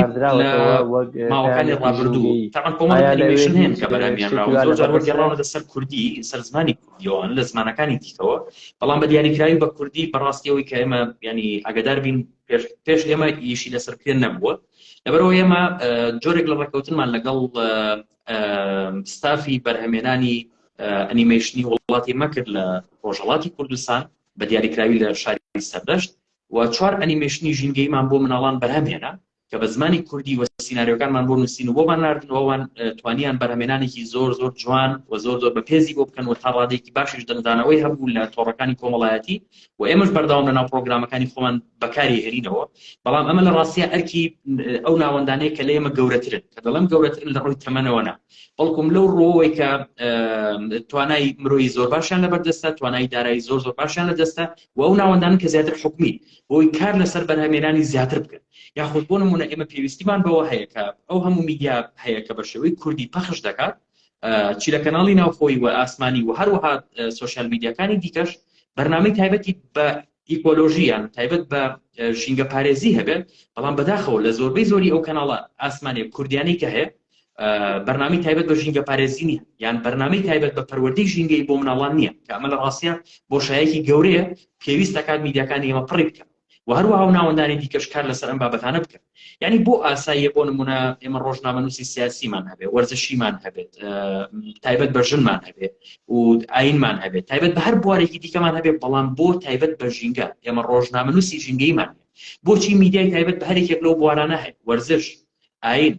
ماوەکانی ڕابردوو تاوان کۆمەڵی ئەنیمەیشن هەیە کە بەرامیان راوە زۆر جار وەرگێڕاوە لەسەر کوردی سەر زمانی کوردیەوەن لە زمانەکانی دیکەوە بەڵام بە دیاری کراوی بە کوردی بەڕاستیەوەی کە ئێمە ینی ئەگەدار بین پێش ئێمە ئیشی لەسەر پێ نەبووە لەبەرەوە ئێمە جۆرێک لە ڕێککەوتنمان لەگەڵ ستافی بەرهەمێنانی ئەنیمەیشنی وڵاتی مەکرد لە ڕۆژهڵاتی کوردستان بە دیاریکراوی لە شاری سەردەشت و چوار ئەنیمەیشنی ژینگەیمان بۆ مناڵان بەرهەمێنە کە بە زمانی کوردی وە سینناریۆکانمان بۆ نووسین و بۆمان نردنەوەوان توانیان بەرهەمێنانێکی زۆر زۆر جوان و زۆر زۆر بە پێزی بۆ بکەن و تا ڕادێکی باشیش دەنگدانەوەی هەبوو لە تۆڕەکانی کۆمەڵایەتی و ئێمەش بەردەوام لەناو پڕۆگرامەکانی خۆمان بەکاری هێنینەوە بەڵام ئەمە لە ڕاستە ئەرکی ئەو ناوەندانەیە کە لە ئێمە گەورەترن کە دەڵێم گەورەترن لە ڕووی تەمەنەوەنا بەڵکم لەو ڕۆەوەی کە توانای مرۆی زۆر باشیان لە بەردەستە توانای دارایی زۆر زۆر باشیان لە دەستە و ئەو ناوەندان کە زیاتر حکومی بۆی کار لەسەر بەرهەمێنانی زیاتر بکەن یاخود بۆ نمونە ئێمە پێویستیمان بەوە هەیە کە ئەو هەموو میدیا هەیە کە بە شێوەی کوردی پەخش دەکات چی لە کەناڵی ناوخۆی و ئاسمانی و هەروەها سۆشیال میدیاکانی دیکەش بەرنامەی تایبەتی بە ئیکۆلۆژیان تایبەت بە ژینگە پارێزی هەبێت بەڵام بەداخەوە لە زۆربەی زۆری ئەو کەناڵە ئاسمانێک کوردیانی کە هەیە بەرنامی تایبەت بە ژینگە پارێزی نیە یان بەرنامەی تایبەت بە پەروەردەی ژینگەی بۆ مناڵان نییە کە ئەمە لە ڕاستە بۆ شایەکی گەورەیە پێویستەکان میدیاکانی ئێمە پڕی بکەن و هەروەها و ناوەندانی دیکەش کار لەسەر ئەم بابەتانە بکەن یعنی بۆ ئاساییە بۆ نمونە ئێمە ڕۆژنامەنووسی سیاسیمان هەبێ وەرزشیمان هەبێت تایبەت بە ژنمان هەبێ و ئاینمان هەبێت تایبەت بە هەر بوارێکی دیکەمان هەبێ بەڵام بۆ تایبەت بە ژینگە ئێمە ڕۆژنامەنووسی ژینگەیمان بۆچی میدیای تایبەت بە هەرێکێک لەو بوارانە هەیە وەرزش ئاین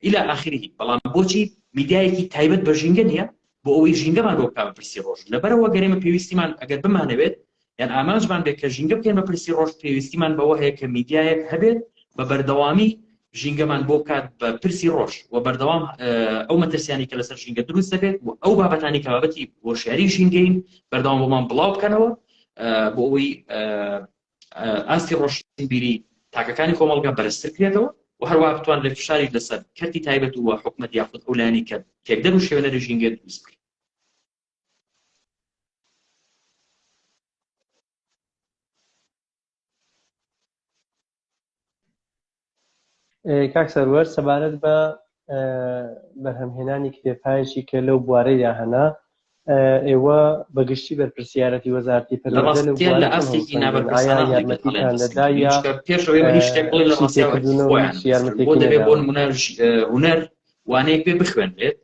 الی اخره بەڵام بۆچی میدیایەکی تایبەت بە ژینگە نیە بۆ ئەوەی ژینگەمان بۆ بکا بە پرسی ڕۆژ لەبەرەوە گەر ئێمە پێویستیمان ئەگەر بمانەوێت یان ئامانجمان بێت کە ژینگە بکەین بە پرسی ڕۆژ پێویستیمان بەوە هەیە کە میدیایەک هەبێت بە بەردەوامی ژینگەمان بۆ بکات بە پرسی ڕۆژ و بەردەوام ئەو مەترسیانی کە لەسەر ژینگە دروست دەبێت و ئەو بابەتانی کە بابەتی هۆشیاری ژینگەین بەردەوام بۆمان بڵاو بکەنەوە بۆ ئەوەی ئاستی ڕۆشنبیری تاکەکانی کۆمەڵگا بەرزتر کرێتەوە و هەروەها بتوانرێت فشاری لەسەر کەرتی تایبەت و حکومەت یاخود ئەو لایەنەی کە تێکدەر و شێوێنەری ژینگە دروست بکرێت کاک سەروەر سەبارەت بە بەرهەمهێنانی کتێبهایەکی کە لەو بوارەیدا هەنا ئێوە بەگشتی بەرپرسیارەتی وەزارتی پێ لە ئەسێکی نابەرپرسیارەتی بۆ نمونە هونەر وانەیەک پێ بخوێنرێت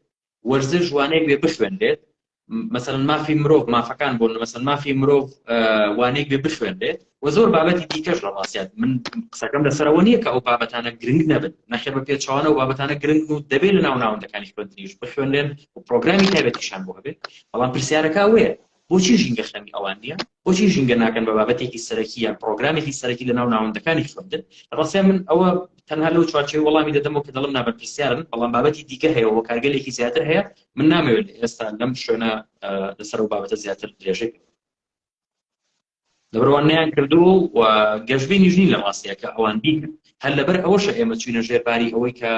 وەرزش وانەی بێ بخوێنرێت مەسەن مافی مرۆڤ مافەکان بۆن مەسەن مافی مرۆڤ وانەیەک بێ بخوێنرێت و زۆر بابەتی دیکەش لە ڕاستیات من قسەکەم لەسەرەوە نییە کە ئەو بابەتانە گرنگ نەبن نەخێ بە پێچوانە و بابەتانە گرنگ و دەبێت لە ناو ناوەندەکانی خوێندنیش بخوێنرێن و پرۆگرامی تایبەتیشان بۆ هەبێت بەڵام پرسیارەکە وێ بۆچی ژینگە خەمی ئەوان نییە؟ بۆچی ژینگە ناکەن بە بابەتێکی سەرەکی یان پڕۆگرامێکی سەرەکی لە ناو ناوەندەکانی خوێندن؟ ڕاستە من ئەوە تەنها لەو چوارچێوەی وەڵامی دەدەمەوە کە دەڵێم نابەرپرسیارن، بەڵام بابەتی دیکە هەیە و هۆکارگەلێکی زیاتر هەیە، من نامەوێت لە ئێستا لەم شوێنە لەسەر ئەو بابەتە زیاتر درێژەی بکەم. لەبەرئەوان نەیان کردووە و گەشبینیش نین لە ڕاستەیە کە ئەوان بیکەن هەر لەبەر ئەوەشە ئێمە چوینە ژێر باری ئەوەی کە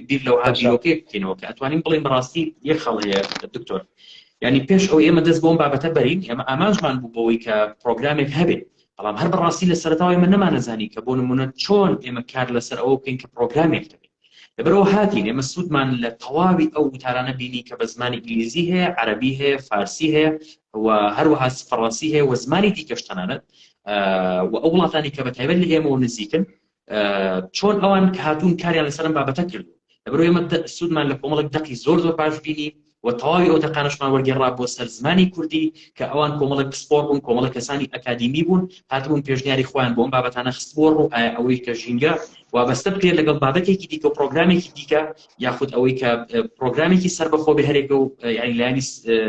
بیر لەو هاژیرۆکەی بکەینەوە کە ئەتوانین بڵێن بەڕاستی یەک خەڵەیە دکتۆر ینی پێش ئەو ئێمە دەست بۆم بابەتە بەرین ئێمە ئامانجمان بوو بەوەی کە پرۆگرامێک هەبێت بەڵام هەر بەڕاستی لە سەرتاوای من نەمانەزانی کە بۆ نمونە چۆن ئێمە کار لەسەر ئەوە بکەین کە پرۆگرامێک دەبێت لەبەرەوە هاتین ئێمە سوودمان لە تەواوی ئەو وتارانە بینی کە بە زمانی ئینگلیزی هەیە عەربی هەیە فارسی هەیە و هەروەها فەڕەنسی هەیە و زمانی دیکەش تەنانەت و ئەو وڵاتانی کە بەتایبەت لە ئێمەەوە نزیکن چۆن ئەوان کە هاتوون کاریان لەسەرم بابەتە کرد لەبەر ئێمە سوودمان لە کۆمەڵک دەقی زۆر زۆر باش بینی و تەواوی ئەو دەقانشمان وەرگێڕا بۆ سەر زمانی کوردی کە ئەوان کۆمەڵک پسپۆر بوون کۆمەڵە کەسانی ئەکادیمی بوون هاتبوون پێشنیاری خۆیان بۆم بابەتانە خستبووە ڕوو ئایا ئەوەی کە ژینگە وابەستە بکرێت لەگەڵ بابەتێکی دیکە و پرۆگرامێکی دیکە یاخود ئەوەی کە پرۆگرامێکی سەربەخۆ بێ هەرێکە و یعنی لایانی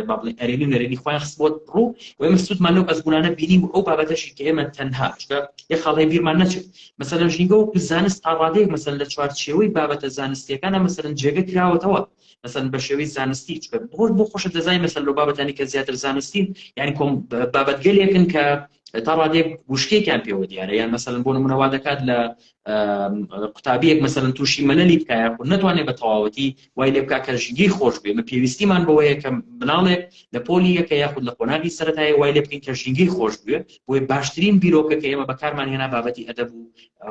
بابڵێ ئەرێنی و نەرێنی خۆیان خست بۆت ڕوو و ئێمە سوودمان لەو ئەزمونانە بینی و ئەو بابەتەشی کە ئێمە تەنها چکە یە خاڵی بیرمان نەچێت مەسەلەن ژینگە و زانست تا ڕادەیەک مەسەل لە چوارچێوەی بابەتە زانستیەکانە مەسەرن جێگە کراوەتەوە مەسەن بە شێوی زانستی چکە بۆش بۆ خۆشە دەزای مەسەل لە بابەتانی کە زیاتر زانستین یعنی کۆم بابەتگەلێکن کە تا ڕادێک گوشکێکیان پێوە دیارە یان مەسەن بۆ نمونەوا دەکات لە قوتابیەک مەسەن تووشی مەلەلی بکە یاخود نەتوانێت بە تەواوەتی وای لێ بکە کە ژیگەی خۆش بێ من پێویستیمان بەوەیە کە مناڵێک لە پۆلی یەکە یاخود لە قۆناغی سەرەتای وای لێ بکەین کە ژینگەی خۆش بوێ بۆی باشترین بیرۆکە کە ئێمە بەکارمان هێنا بابەتی ئەدەب و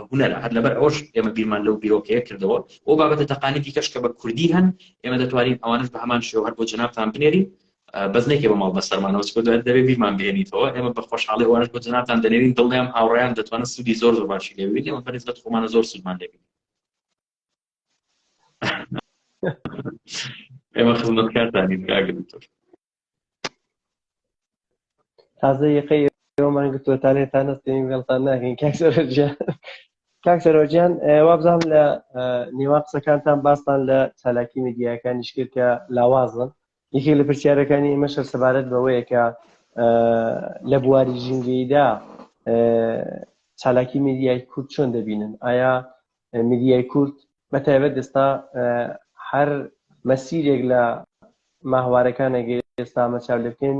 هوەرە هەر لەبەر ئەوش ئێمە بیرمان لەو بیرۆکەیە کردەوە ئەو بابەتە تەقانی دیکەش کە بە کوردی هەن ئێمە دەتوانین ئەوانش بە هەمان شێوە هەر بۆ جنابتان بنێرین بەس نەیکەی بە ماڵ بەسەرمانەوە چکە دوای دەبێ بیرمان بهێنیتەوە ئێمە بە خۆشحاڵی ئەوانش بۆ جەنابتان دەنێرین دڵنیام هاوڕێیان دەتوانن سوودی زۆر زۆر باشی لێ ببینی ئەمە بەنسبەت خۆمانە زۆر سوودمان لێ بینی ئێمە خزمەتکارتانین کاک دکتۆر تازە یەقەی ئێوەمان گرتووە تا لێتان نەستین وێڵتان ناکەین کاک سەرۆجیان کاک سەرۆجیان وابزانم لە نێوان قسەکانتان باستان لە چالاکی میدیاکانیش کرد کە لاوازن یەکێک لە پرسیارەکانی ئێمەش هەر سەبارەت بەوەیە کە لە بواری ژینگەیدا چالاکی میدیای کورد چۆن دەبینن ئایا میدیای کورد بە تایبەت دەستا هەر مەسیرێک لە ماهوارەکانەگە ئێستا مەچاو لەکەین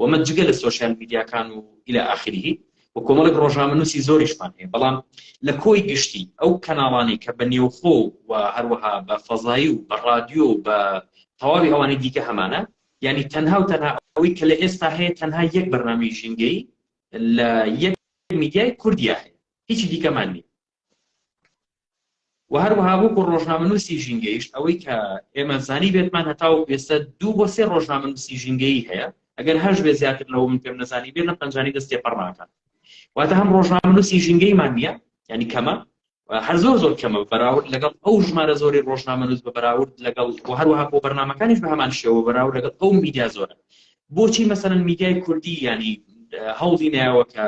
وە مە جگە لە سۆشیال میدیاکان و الی اخره وە کۆمەڵێک ڕۆژنامەنووسی زۆریشمان هەیە بەڵام لە کۆی گشتی ئەو کەناڵانەی کە بە نێوخۆ و هەروەها بە فەزایی و بە ڕادیۆ و بە تەواوی ئەوانەی دیکە هەمانە یعنی تەنها و تەنها ئەوەی کە لە ئێستا هەیە تەنها یەک بەرنامەی ژینگەی لە یەک میدیای کوردیا هەیە هیچی دیکەمان نییە و هەروەها وەکو ڕۆژنامەنووسی ژینگەیش ئەوەی کە ئێمە زانیبێتمان هەتاوەکو ئێستا دوو بۆ سێ ڕۆژنامەنووسی ژینگەیی هەیە ئەگەر هەش بێ زیاتر لەوە من پێم نەزانی بێ لەم پەنجانی دەست تێپەڕ ناکات واتە هەم ڕۆژنامەنووسی ژینگەیمان نییە ینی کەمە هەر زۆر زۆر کەمە بەراورد لەگەڵ ئەو ژمارە زۆری ڕۆژنامەنووس بە بەراورد لەگەڵ و هەروەها بۆ بەرنمەکانیش بە هەمان شێوە بەراورد لەگەڵ ئەو میدیا زۆرە بۆچی مەسەن میدیای کوردی ینی هەوڵی ناوە کە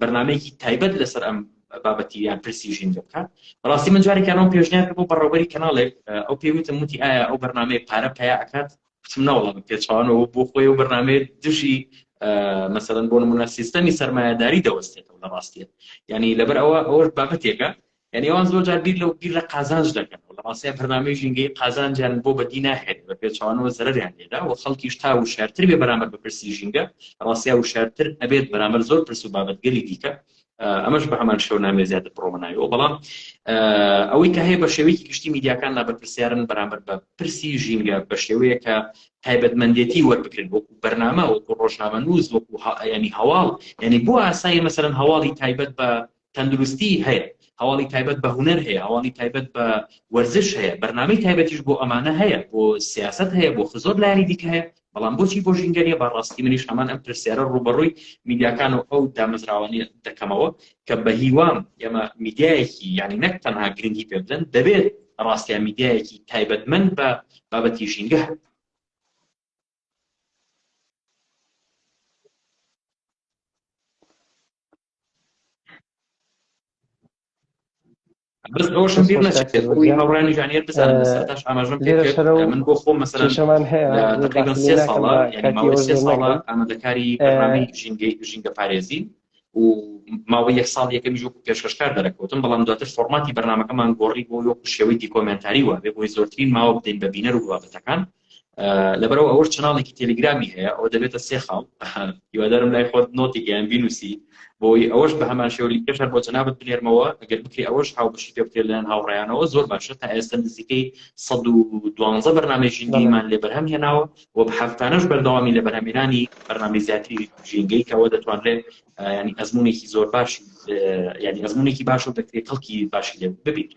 بەرنامەیەکی تایبەت لەسەر ئەم بابەتی یان پرسی ژینگە بکات بەڕاستی من جارێکیانەوە پێشنیار بۆ بەڕەوەری کەناڵێک ئەو پێوتم وتی ئایا ئەو بەرنمەیە پارە پیا ئەکات بچم ناوڵە بە پێچوانەوە بۆ خۆی و بەرنمەیە دژی مەسەرەن بۆ نمونە سیستەمی سەرمایهداری دەوەستێتەوە لە ڕاستیە ینی لەبەر ئەوە ئەوەش بابەتێکە یانی ئەوان زۆر جار بیر لەو بیر لە قازانج دەکەن و لە ڕاستای بەرنامەی ژینگەی قازانجیان بۆ بەدی ناهێنێت بە پێچەوانەوە زەرەریان لێدا و خەڵکیش تا وشارتر بێ بەرامبەر بە پرسی ژینگە ڕاستیا وشارتر ئەبێت بەرامبەر زۆر پرس و بابەتگەلی دیکە ئەمەش بە هەمان شەو نامێ زیاتر پرۆمەناویەوە بەڵام ئەوەی کە هەیە بە شێوەیەکی گشتی میدیاکان لا بەرپرسیارن بەرامبەر بە پرسی ژینگە بە شێوەیە کە تایبەتمەندێتی وەربکرێن وەکو بەرنامە وەکو ڕۆژنامە نووز وەکو ینی هەواڵ ینی بۆ ئاسایی مەسەرەن هەواڵی تایبەت بە تەندروستیی هەیە، هەواڵی تایبەت بە هونەر هەیە، هەواڵی تایبەت بە وەرزش هەیە، بەرنامەی تایبەتیش بۆ ئەمانە هەیە، بۆ سیاسەت هەیە، بۆ زۆر لایەنی دیکە هەیە، بەڵام بۆچی بۆ ژینگە نییە؟ بە ڕاستی منیش هەمان ئەم پرسیارە ڕووبەڕووی میدیاکان و ئەو دامەزراوانە دەکەمەوە کە بە هیوام ئێمە میدیایەکی یانی نەک تەنها گرنگی پێ بدەن، دەبێت ڕاستیان میدیایەکی تایبەتمەند بە بابەتی ژینگە هەبێت. بەس ئەوشم بیر نەچێت بۆی هاوڕانی ژانیت بزانم سەتاش ئاماژم پێ من بۆ خۆم مەسەرشەمان هەیە تقریبا سێ ساڵە یعنی ماوەی سێ ساڵە ئامادەکاری بەرنامەی ژینگەی ژینگە پارێزی و ماوەی یەک ساڵ یەکەمی ژۆک پێشکەشکار دەرەکەوتم بەڵام دواتر فۆرماتی بەرنمەکەمان گۆڕی بۆ وەکو شێوەی دیکۆمنتاری وە بێ بۆی زۆرترین ماوە بدەین بە بینەر و بابەتەکان لەبەرەوە ئەوەش چناڵێکی تەلیگرامی هەیە ئەو دەبێتە سێ خاڵ هیوادارم لای خۆت نۆتێکیان بینوسی بۆی ئەوەش بە هەمان شێوە لیکەشەر بۆ جەنابەت بنێرمەوە ئەگەر بکری ئەوەش هاوبەشی پێ بکرێت لەیان هاوڕیانەوە زۆر باشە تا ئێستا نزیکەی 112 بەرنامی ژینگەیمان لێ بەرهەم هێناوە و هەفتانەش بەردەوامی لە بەرهەمێنانی بەرنامی زیاتری ژینگەی کەەوە دەتوانرێت ینی ئەزمونێکی زۆر باش ینی ئەزمونێکی باش و دەکرێت کەڵکی باشی لێ ببیت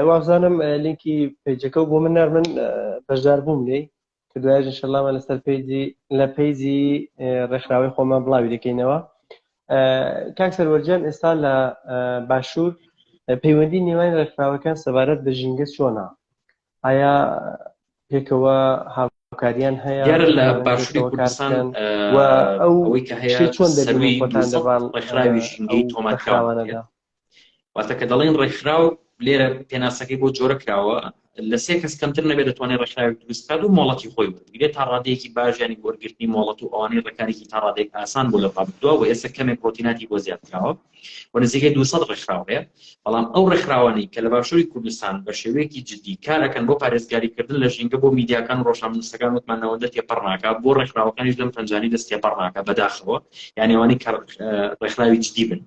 وابزانم لینکی پیجەکە بۆ من نار من بەشدار بووم لێ کە دوایش انشاءاللهمە لەسەر پیجی لە پیجی ڕێکخراوەی خۆمان بڵاوی دەکەینەوە کاک سەروەرجان ئێستا لە باشوور پەیوەندی نێوان ڕێکخراوەکان سەبارەت بە ژینگە چۆنا ئایا پێکەوە هاوکاریان هەیە دیارە لە ئەوانەی باشووری پێکەوە کار کوردستان بکەن ئە، و ئەو ئەوەی کە هەیە شتەی چۆن دەبینن سەرووی خۆتان 200 لەبان ئە، ڕێکخراوی ژینگەی ئەو تۆمارکراون ڕێکخراوانەدا هەیە واتە کە دەڵێین ڕێکخراو لێرە پێناسەکەی بۆ جۆرە کراوە لە سێ کەس کەمتر نەبێت دەتوانێت ڕێکخراوێک دروست بکات و مۆڵەتی خۆی وەربگرێت تا ڕادەیەکی باش یانی وەرگرتنی مۆڵەت و ئەوانەی ڕێکارێکی تا ڕادەیەک ئاسان بۆ لە ڕابردووە و ئێستا کەمێک ڕۆتیناتی بۆ زیاد کراوە و نزیکەی دوو سەد ڕێکخراو هەیە، بەڵام ئەو ڕێکخراوانەی کە لە باشووری کوردستان بە شێوەیەکی جددی کار ئەکەن بۆ پارێزگاریکردن لە ژینگە بۆ میدیاکان و ڕۆژنامەنووسەکان وتمان نەوەندە تێپەڕ ناکا، بۆ ڕێکخراوەکانیش لەم پەنجانەی دەست تێپەڕ ناکا بەداخەوە، یانی ئەوانەی کە ڕێکخراوی جددی بن.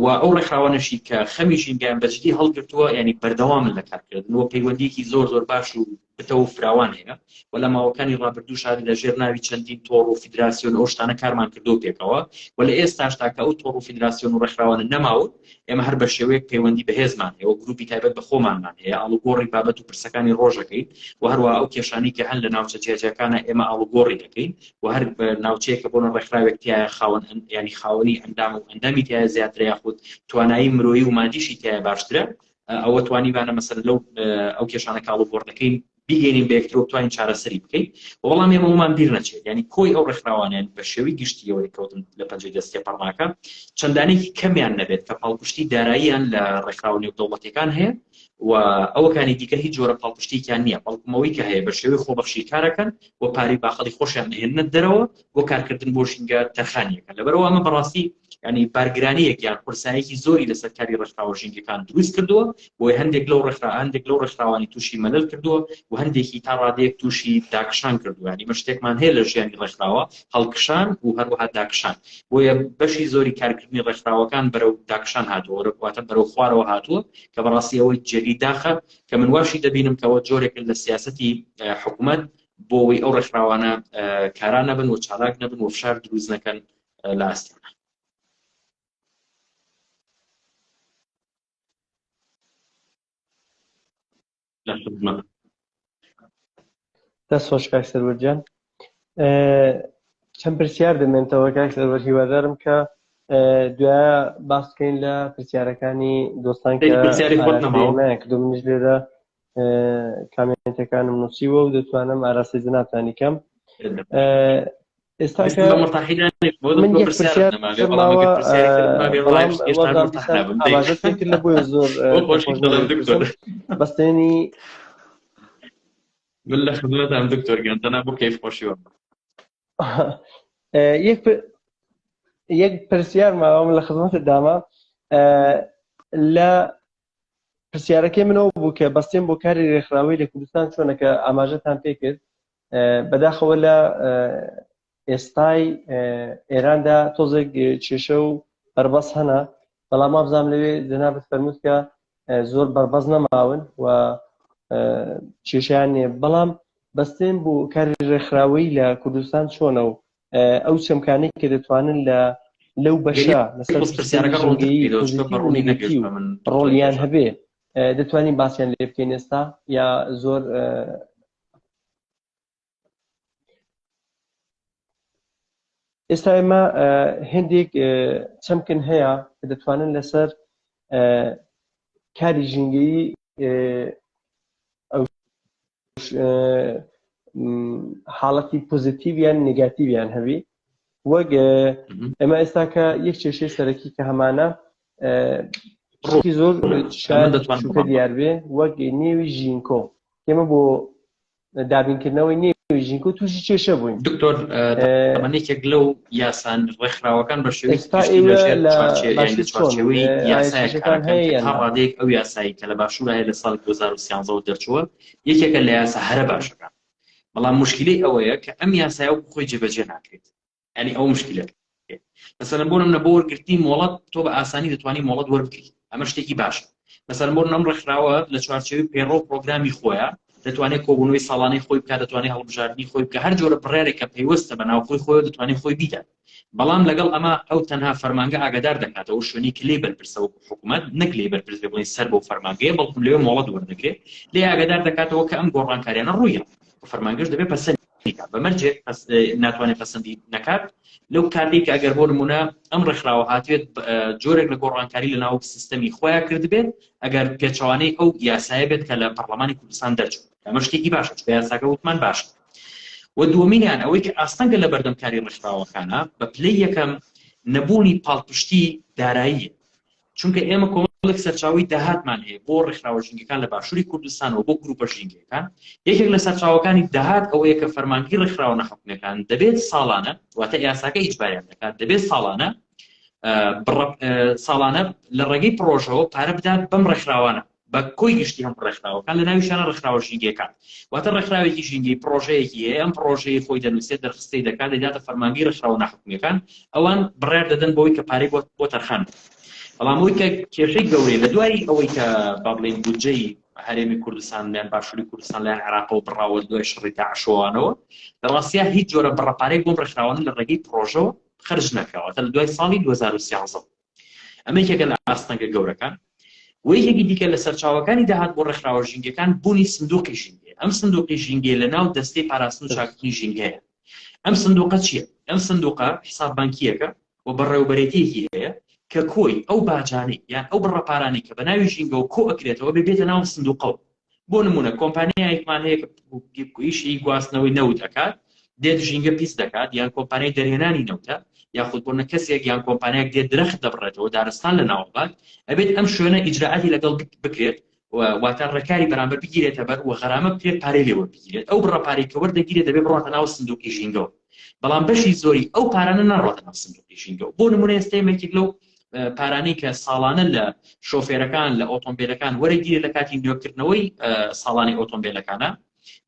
و ئەو ڕێکخراوانەشی کە خەمی ژینگەیان بە جددی هەڵگرتووە یانی بەردەوامن لە کارکردن و پەیوەندیەکی زۆر زۆر باش و نەتەوە و فراوان هەیە و لە ماوەکانی ڕابردووش هەر لە ژێر ناوی چەندین تۆڕ و فیدراسیۆن و ئەو شتانە کارمان کردووە پێکەوە و لە ئێستاشدا کە ئەو تۆڕ و فیدراسیۆن و ڕێکخراوانە نەماون ئێمە هەر بە شێوەیەک پەیوەندی بەهێزمان هەیە و گروپی تایبەت بە خۆمانمان هەیە ئاڵوگۆڕی بابەت و پرسەکانی ڕۆژەکەین و هەروەها ئەو کێشانەی کە هەن لە ناوچە جیاجیاکانە ئێمە ئاڵوگۆڕی دەکەین و هەر ناوچەیە کە بۆنە ڕێکخراوێک تایە خاوەن ینی خاوەنی ئەندام و ئەندامی تایە زیاترە یاخود توانایی مرۆیی و مادیشی تایە باشترە ئەوە توانیمانە مەسەلەن لەو ئەو کێشانە کاڵ و گۆڕدەکەین بیگەینین بە یەکترۆ بتوانین چارەسەری بکەین وەڵام ئێمەمان بیر نەچێت ینی کۆی ئەو ڕێکخراوانیان بە شێوی گشتیەوە کەوتن لە پەنجەی دەستێ پەڕناکە چەندانێکی کەمیان نەبێت کە پاڵپشتی داراییان لە ڕێکخراوە نێودەوڵەتەکان هەیە و ئەوەکانی دیکە هیچ جۆرە پاڵپشتێکیان نییە بەڵکمەوەی کە هەیە بە شێوەی خۆبەخشی کارەکەن و پاری باخەڵی خۆشیان نهێنە دەرەوە بۆ کارکردن بۆ ژینگە تەرخانیەکە لەبەرەوە ئەمە بەڕاستی ینی بارگرانەیەک یان قورسایەکی زۆری لەسەر کاری ڕێکخراوە ژینگەکان دروست کردووە بۆی هەندێک لەو ڕێکخرا هەندێک لەو ڕێکخراوانی تووشی مەلل کردووە و هەندێکی تا ڕادێک تووشی داکشان کردووانی مەشتێکمان هەیە لە ژیانی ڕێکخراوە هەڵکشان و هەروەها داکشان بۆیە بەشی زۆری کارکردنی ڕێکخراوەکان بەرەو داکشان هاتووە ڕێکواتە بەرەو خوارەوە هاتووە کە بەڕاستی ئەوەی جێگەی داخە کە من واشی دەبینم کەەوە جۆرێکن لە سیاستی حکوومەت بۆ ئەوەی ئەو ڕێکخراوانە کارا نەبن و چالاک نەبن و فشار دروست نەکەن لە ئاستانە دەست خۆش کاک سەروەرجان چەند پرسیار دەمێنتەوە کاک سەروەر هیوادارم کە دوای باس بکەین لە پرسیارەکانی دۆستان کە پرسیاری خۆت نەماوە کردو منیش لێرە کامێنتەکانم نووسیوە و دەتوانم ئاراستەی جنابتانی کەم ئێستا لە بۆ زۆر بەستێنی من لە خزمەتان دکتۆر گەنتەنا بۆ کەیف خۆشیوە یەک پرسیار ماوەم لە خزمەتە داما لە پرسیارەکەی من ئەو بوو کە بەستێن بۆ کاری رێکخراوەی لە کوردستان چۆنە کە ئاماژەتان پێ کرد بەداخەوە لە ئێستای ئێراندا تۆزێک کێشە و بەربەس هەنا بەڵام مابزانام لەوێ جەنابەت فەرمووت کە زۆر بەربەز نەماون و کێشیان نیە بەڵام بەستێن بۆ کاری ڕێکخراوەی لە کوردستان چۆنە و ئەو چەمکانەی کە دەتوانن لە لەو بەشە ڕۆڵیان هەبێ دەتوانین باسییان لێ بکەین ئێستا یا زۆر ئێستا ئێمە هندێک چەمکن هەیە کە دەتوانن لەسەر کاری ژینگەی ئەو حاڵەتی پۆزیتیویان نگاتیویان هەبی وەک ئەمە ئێستا کە یەک کێشەی سەرەکی کە هەمانە ڕۆکی زۆر شارکە دیار بێ وەک نێوی ژینکۆ ئێمە بۆ دابینکردنەوەی نێوی ژینکۆ تووشی کێشە بووین دکتۆر منێکێک لەو یاسان ڕێکخراوەکان بە شێوەیەکی ئێستا گشتی ئێوە لەژێر لە چوارچێ یان لە باشی چۆن چوارچێوەی یاسایەک ئایسیشەکان کارەکەن کە هەیە تا یان نا ڕادەیەک ئەو یاسایی کە لە باشوور هەیە لە ساڵی 2013 ەوە دەرچووە یەکێکە لە یاسا هەرە باشەکان بەڵام مشکلەی ئەوەیە کە ئەم یاسایە وەکو خۆی جێبەجێ ناکرێت ینی ئەو مشکلەکە مەسەلەن بۆ نمونە بۆ وەرگرتنی مۆڵەت تۆ بە ئاسانی دەتوانی مۆڵەت وەربگریت ئەمە شتێکی باشە مەسەر مۆر نەم ڕێکخراوە لە چوارچەوەی پەیڕە و پرۆگرامی خۆیە دەتوانێت کۆبوونەوەی ساڵانەی خۆی بکات دەتوانێت هەڵبژاردننی خۆی بکە هەر جۆرە بڕارێکە پەیوەستە بە ناوخۆی خۆی دەتوانێت خۆی بیدات بەڵام لەگەڵ ئەمە ئەو تەنها فەرمانگە ئاگادار دەکاتەوە شوێنی کلی بەرپرسە و حکوومەت نەک لی بەرپرس بڵین سەر بۆ فەرمانگەیە بەڵکم لێ مۆڵەت وەردەگرێت لێ ئاگادار دەکاتەوە کە ئەم گۆڕانکاریانە ڕوویە فەرمانگەش دەبێت پەسەند بیکات بە مەرجێک ناتوانێت پەسەندی نەکات لەو کاتێک کە ئەگەر بۆ نمونە ئەم ڕێکخراوە هاتوێت جۆرێک لە گۆڕانکاری لە ناو سیستەمی خۆیان کردبێت ئەگەر پێچوانەی ئەو یاسایە بێت کە لە پەرلەمانی کوردستان دەرچوو ئەمە شتێکی باشە چ یاساکە وتمان باش و دووەمینیان ئەوەی کە ئاستەنگە لە بەردەمکاری ڕێکخراوەکانە بە پلەی یەکەم نەبوونی پاڵپشتی دارایی چونکە ئێمە کۆمەڵێک سەرچاوەی داهاتمان هەیە بۆ ڕێکخراوە ژینگەکان لە باشووری کوردستانەوە بۆ گروپە ژینگەکان یەکێک لە سەرچاوەکانی داهات ئەوەیە کە فەرمانگی ڕێکخراوە نەحکومەکان دەبێت ساڵانە واتە یاساکە ئیجباریان دەکات دەبێت ساڵانە ساڵانە لە ڕێگەی پرۆژەوە پارە بدات بەم ڕێکخراوانە بە کۆی گشتی هەموو ڕێکخراوەکان لە ناویشانە ڕێکخراوە ژینگەیەکان واتە ڕێکخراوێکی ژینگەی پڕۆژەیەکی هەیە ئەم پڕۆژەیە خۆی دەنووسێت دەرخستەی دەکات دەیداتە فەرمانگەی ڕێکخراوە ناحکومییەکان ئەوان بڕیار دەدەن بۆی کە پارەی بۆ بۆ تەرخان بەڵام ئەوی کە کێشەی گەورەی لە دوای ئەوەی کە با بڵێین بودجەی هەرێمی کوردستان لەیان باشووری کوردستان لەیان عراقەوە بڕاوە دوای شڕی داعشەوانەوە لە ڕاستیا هیچ جۆرە بڕەپارەی بۆم ڕێکخراوانە لە ڕێگەی پڕۆژەوە خرج نەکراوەتە لە دوای ساڵی 2013 ئەمە یەکێکە لە ئاستەنگە گەورەکان و یەکێکی دیکە لە سەرچاوەکانی داهات بۆ ڕێکخراوە ژینگەکان بوونی سندوقی ژینگەیە ئەم سندوقی ژینگەیە لە ناو دەستەی پاراستن و چاککردنی ژینگەیە ئەم سندوقە چییە ئەم سندوقە حساب بانکیەکە و بەڕێوبەرێتیەکی هەیە کە کۆی ئەو باجانەی یان ئەو بڕە پارانەی کە بە ناوی ژینگەوە کۆ ئەکرێتەوە بێ بێتە ناو سندوقەوە بۆ نمونە کۆمپانیایەکمان هەیە ئیشی گواستنەوەی نەوت ئەکات دێت ژینگە پیس دەکات یان کۆمپانیای دەرهێنانی نەوتە یاخود بۆ نەکەسێک یان کۆمپانیاک دێت درەخت دەبڕێتەوە دارستان لە ناوبات ئەبێت ئەم شوێنە ئیجرراعاتی لەگەڵ بکرێت واتە ڕێکاری بەرامبەر بگیرێتە بەر و غەرامە بکرێت پارەی لێوە بگیرێت ئەو بڕە پارەی کەوەر دەگیرێت دەبێت بڕاتە ناو سندوقی ژینگەوە بەڵام بەشی زۆری ئەو پارانە ناڕاتە ناو سندوقی ژینگەوە بۆ نمونە ئێستا یەکێک لەو پارانەی کە ساڵانە لە شۆفێرەکان لە ئۆتۆمبیلەکان وەرەگیرە لە کاتی نوێکردنەوەی ساڵانی ئۆتۆمبیلەکانە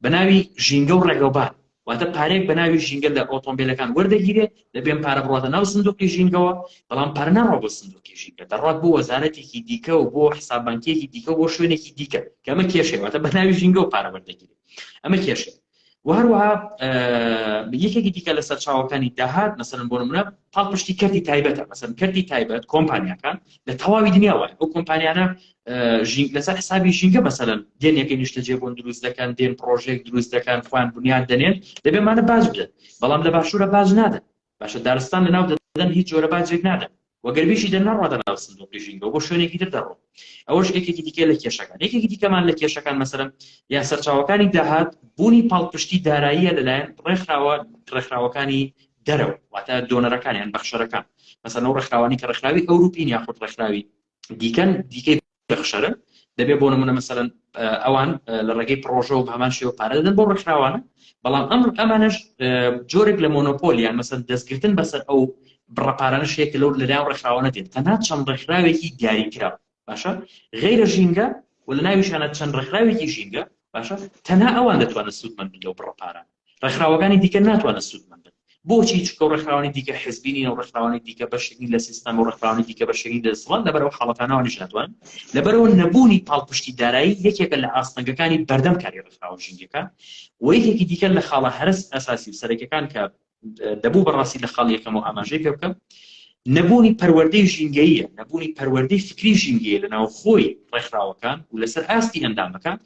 بە ناوی ژینگە و ڕێگەوبان واتە پارێک بە ناوی ژینگە لە ئۆتۆمبیلەکان وەردەگیرێت لە بێن پارە بڕاتە ناو سندوقی ژینگەوە بەڵام پەرناڕۆ بۆ سندوقی ژینگە دەڕات بۆ وەزارەتێکی دیکە و بۆ حسابانکیەکی دیکە بۆ شوێنێکی دیکە کەمە کێشێواتە بە ناوی ژینگە و پارە وەردەگیرێت ئەمە کێشێت و هەروەها یەکێکی دیکە لە سەرچاوەکانی داهات مەسەرن بۆ منە پاڵپشتی کردی تایبەتە مەسەن کردی تایبەت کۆمپانیاکان لە تەواوی دنیا وای ئەو کۆمپانیانە ژینگ لەسەر حسابی ژینگە مەسەرن دێنێکی نیشتەجێ بۆن دروست دەکەن دێن پرۆژێک دروست دەکەن خوان بنیاد دەنێن دەبێمانە باز بدەن بەڵام لە باشوورە باز نادەن باشە دارستان لەناو دەدەن هیچ جۆرە باجێک نادەن و گەر بیشی دەن نەڕواتە ناو سندوقی ژینگەوە بۆ شوێنێکی تر دەڕۆن ئەوەش یەکێکی دیکە لە کێشەکان یەکێکی دیکەمان لە کێشەکان مەسەرم یا سەرچاوەکانی داهات بوونی پاڵپشتی داراییە لەلایەن ڕێکخراوە ڕێکخراوەکانی دەرەوە واتە دۆنەرەکانیان بەخشەرەکان مەسەن ئەو ڕێکخراوانی کە ڕێکخراوی ئەوروپین یاخود ڕێکخراوی دیکەن دیکەی دەخشەرن، دەبێت بۆ نموونە مەسەلەن ئەوان لە ڕێگەی پڕۆژەوە بە هەمان شێوە پارە دەدەن بۆ ڕێکخراوانە، بەڵام ئەم ئەمانەش جۆرێک لە مۆنۆپۆل یان مەسەن دەستگرتن بەسەر ئەو بڕە پارانە شێکە لەو لەلایەن ڕێکخراوانە دێت تەنها چەند ڕێکخراوێکی دیاریکرا باشە غیرە ژینگە و لە ناویشانە چەند ڕێکخراوێکی ژینگە باشە تەنها ئەوان دەتوانن سوودمەند لەو بڕە پارانە ڕێکخراوەکانی دیکە ناتوانن سوودمەند بن بۆچی چکە و ڕێکخراوانی دیکە حزبینی و ڕێکخراوانی دیکە بەشێکی لە سیستەم و ڕێکخراوانی دیکە بەشێکی دەسڵان لەبەرەوە حاڵەتانەوە نشاتوان لەبەرەوە نەبوونی پاڵپشتی دارایی یەکێکە لە ئاستەنگەکانی بەردەم کاری ڕێکخراوە ژینگەکە و یەکێکی دیکە لە خاڵە هەرس ئەساسی و سەرەکەکان کە دەبوو بەڕاستی لە خاڵ یەکەم و ئاماژەی پێ بکەم نەبوونی پەروەردەی ژینگەیە نەبوونی پەروەردەی فکری ژینگەیە لە ناوخۆی ڕێکخراوەکان و لەسەر ئاستی ئەندامەکان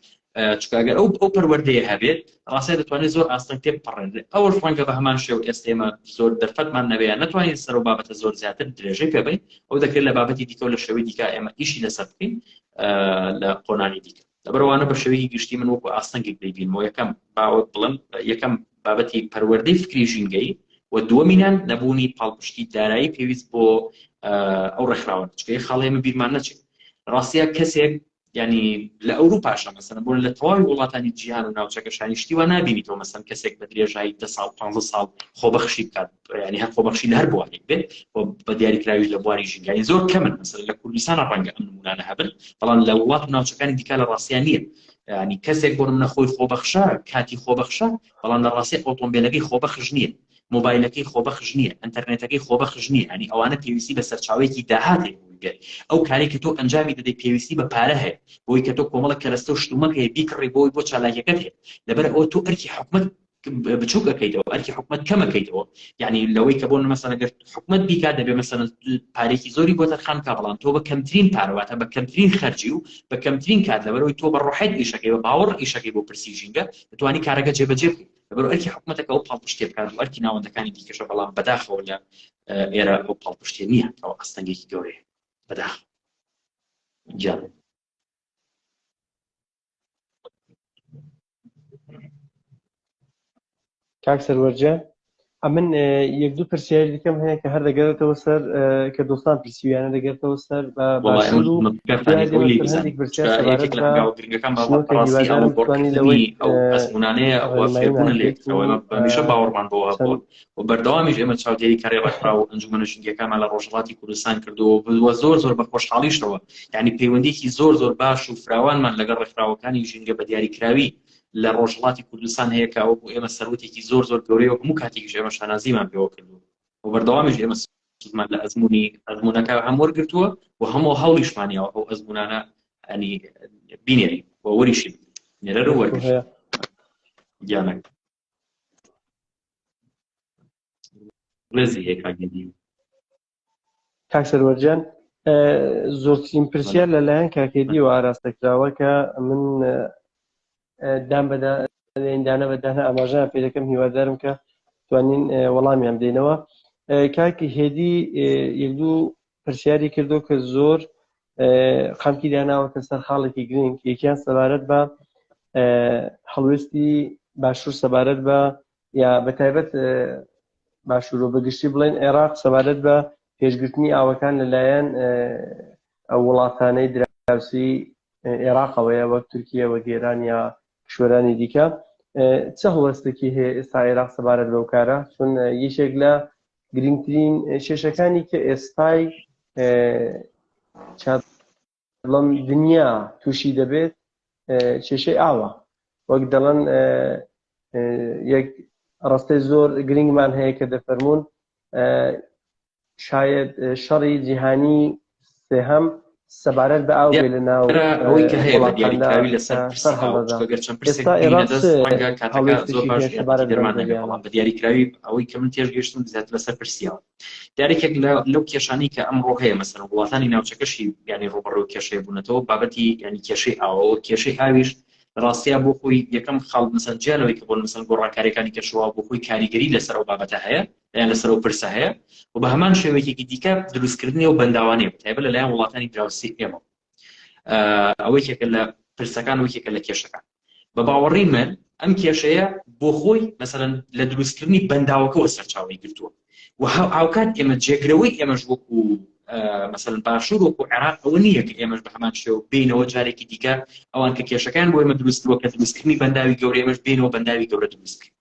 چونکە ئەگەر ئەو ئەو پەروەردەیە هەبێت ڕاستە دەتوانێت زۆر ئاستەنگ تێ بپەڕێنێت ئەوەش ڕەنگە بە هەمان شێو ئێستا ئێمە زۆر دەرفەتمان نەبێت نەتوانین سەر و بابەتە زۆر زیاتر درێژەی پێبین ئەو دەکرێت لە بابەتی دیکە و لە شێوەی دیکە ئێمە ئیشی لەسەر بکەین لە قۆنانی دیکە لەبەرەوانە بە شێوەیەکی گشتی من وەکو ئاستەنگێک دەیبینەوە یەکەم باوەت بڵم یەکەم بابەتی پەروەردەی فکری ژینگەی و دووەمینان نەبوونی پاڵپشتی دارایی پێویست بۆ ئەو ڕێکخراوە چکەی خاڵێمە بیرمان نەچێت ڕاستە کەسێک یانی لە ئەوروپاشە مەسەلەن بۆ لە تەواوی وڵاتانی جیهان و ناوچەکە شانی شتی وا نابینیتەوە مەسەن کەسێک بە درێژایی دە ساڵ پ ساڵ خۆبەخشی بکات ینی هەر خۆبەخشی لە هەر بوارێک بێت بە دیاریکراویش لە بواری ژینگای زۆر کەمن مەسەر لە کوردستان ڕەنگە ئەم نمونانە هەبن بەڵام لە وڵات و ناوچەکانی دیکە لە ڕاستیان نییە ینی کەسێک بۆ منە خۆی خۆبەخشە کاتی خۆبەخشە بەڵام لە ڕاستی ئۆتۆمبیلەکەی خۆبەخش نییە مۆبایلەکەی خۆبەخش نییە، ئەنتەرنێتەکەی خۆبەخش نییە، یانی ئەوانە پێویستی بە سەرچاوەیەکی داهات هەیە بۆ ئەوەی بێت ئەو کارەی کە تۆ ئەنجامی دەدەیت پێویستی بە پارە هەیە بۆ ئەوەی کە تۆ کۆمەڵێک کەرەستە و شتومەک هەیە بیکڕی بۆ ئەوەی بۆ چالاکیەکەت هەیە لەبەر ئەوە تۆ ئەرکی حکومەت بچوک ئەەکەیتەوە ئەرکی حکومت کەمەکەیتەوە یعنی لەوەی کە بۆ مەسەن گەر حکومت بیکات دەبێ مەسەن پارێکی زۆری بۆ دەرخان کا بەڵام تۆ بە کەمترین پارەواتە بە کەمترین خەرجی و بە کەمترین کات لەبەرەوەی تۆ بە ڕۆحێت ئیشەکەی بە باوەڕ ئیشەکەی بۆ پرسی ژینگە دەتوانی کارەکە جێبەجێ بکەیت لەبەر ئەرکی حکوومەتەکە ئەو پاڵپشتێ بکات و ئەرکی ناوەندەکانی دیکەشە بەڵام بەداخەوە لە ئێرە ئەو پاڵپشتێ نییە ئەو ئەستەنگێکی گەورەیە بەداخ جا کاک سەروەرجە ئەمن یەک دوو پرسیاری دیکەم هەیە کە هەر دەگەرێتەوە سەر کە دۆستان پرسیویانە دەگەرتەوە سەر ئەسمونانەیە ئەوەفێبوونە لێکەوە بەمیشە باوەڕمان بۆ هەبوو و بەردەوامیش ئێمە چاودێری کاری ڕێکخرا و ئەنجومەنە ژنگەکانمان لە ڕۆژهڵاتی کوردستان کردەوە بووە زۆر زۆر بە خۆشحاڵیشەوە یعنی پەیوەندیکی زۆر زۆر باش و فراوانمان لەگەڵ ڕێکخراوەکانی ژینگە بە دیاریکراوی لە ڕۆژهەڵاتی کوردستان هەیە کە ئەوە بۆ ئێمە سەروەتێکی زۆر زۆر گەورەیە و هەموو کاتێکیش ئێمە شانازیمان پێوە کردووە و بەردەوامیش ئێمە سودمان لە ئەزمموی ئەزمونونەکە هەم وەرگتووە و هەموو هەڵیشمانیەوە ئەو ئەزمونانە ئەنی بینێری و وەریشی نێرەر وەرگش گیانەک ڕێزی هەیە کاگەدی کاک سەروەر جان زۆرترین پرسیار لەلایەن کاکێدیەوە ئاراستە کراوە کە من دام بەدا دانە بەدانە ئاماژان پێ دەکەم هیوادارم کە توانین وەڵامیان دێنەوە کاکی هێدی یەک دوو پرسیاری کردو کە زۆر خەمکی داناوەتە سەر خاڵێکی گرنگ یەکیان سەبارەت بە هەڵوێستی باشوور سەبارەت بە یا بە تایبەت باشوورۆ بەگشتی بڵێن عێراق سەبارەت بە پێشگرتنی ئاوەکان لەلایەن ئەو وڵاتانەی دراوسی عێراقەوەیە وەک تورکیە وە گێران یا کشوەرانی دیکە چ هەڵوەستێکی هەیە ئێستا عێراق سەبارەت بەو کارە چون یەکێک لە گرنگترین کێشەکانی کە ئێستای بەڵام دنیا تووشی دەبێت کێشەی ئاوە وەک دەڵەن یەک ڕستەی زۆر گرنگمان هەیە کە دەفەرمونون شاید شەڕی جیهانی سێهەم سەبارەت بە ئاو لە ناو ئەوەی کە هەیە بە دیاریکراوی لەسەر سەبارەت دەرمان نەبێت بەڵام بە دیاریکراوی ئەوەی کە من تێش گەشتم زیات لەسەر پرسیاوە یاریکێک لە لەو کێشانەی کە ئەمڕۆ هەیە مەسەر وڵاتانی ناوچەکەشی ینی ڕوبڕەوە کێشەیە بوونەتەوە بابەتی ینی کێشەی ئاوەوە کێشەی ئاویش ڕاستیا بۆ خۆی یەکەم خاڵ مەسەن جیانەوەی کە بۆن مەسەن گۆڕانکاریەکانی کەشەوە بۆ خۆی کاریگەری لەسەر و بابەتە هەیە یان لەسەر و پرسە هەیە و بە هەمان شێوەیەکی دیکە دروستکردنی و بەنداوانێ تایبە لەلایەن وڵاتانی دراوسی ئێمە ئەوەیەکە لە پرسەکان وەکێکە لە کێشەکان بە باوەڕی من ئەم کێشەیە بۆ خۆی مەسەرەن لە دروستکردنی بەنداوەکەەوە سەرچاوی گرتووە و هاوکات ئێمە جێگرەوەی ئێمەش وەکو مەسەن باشوور وەکو عێراق ئەوە نییە کە ئێمەش بە هەمان شێو بینەوە جارێکی دیکە ئەوان کە کێشەکان بۆ ئێمە دروستوە کە دروستکردنی بەنداوی گەورە ئێمەش بینەوە بەنداوی گەورە دروست کرد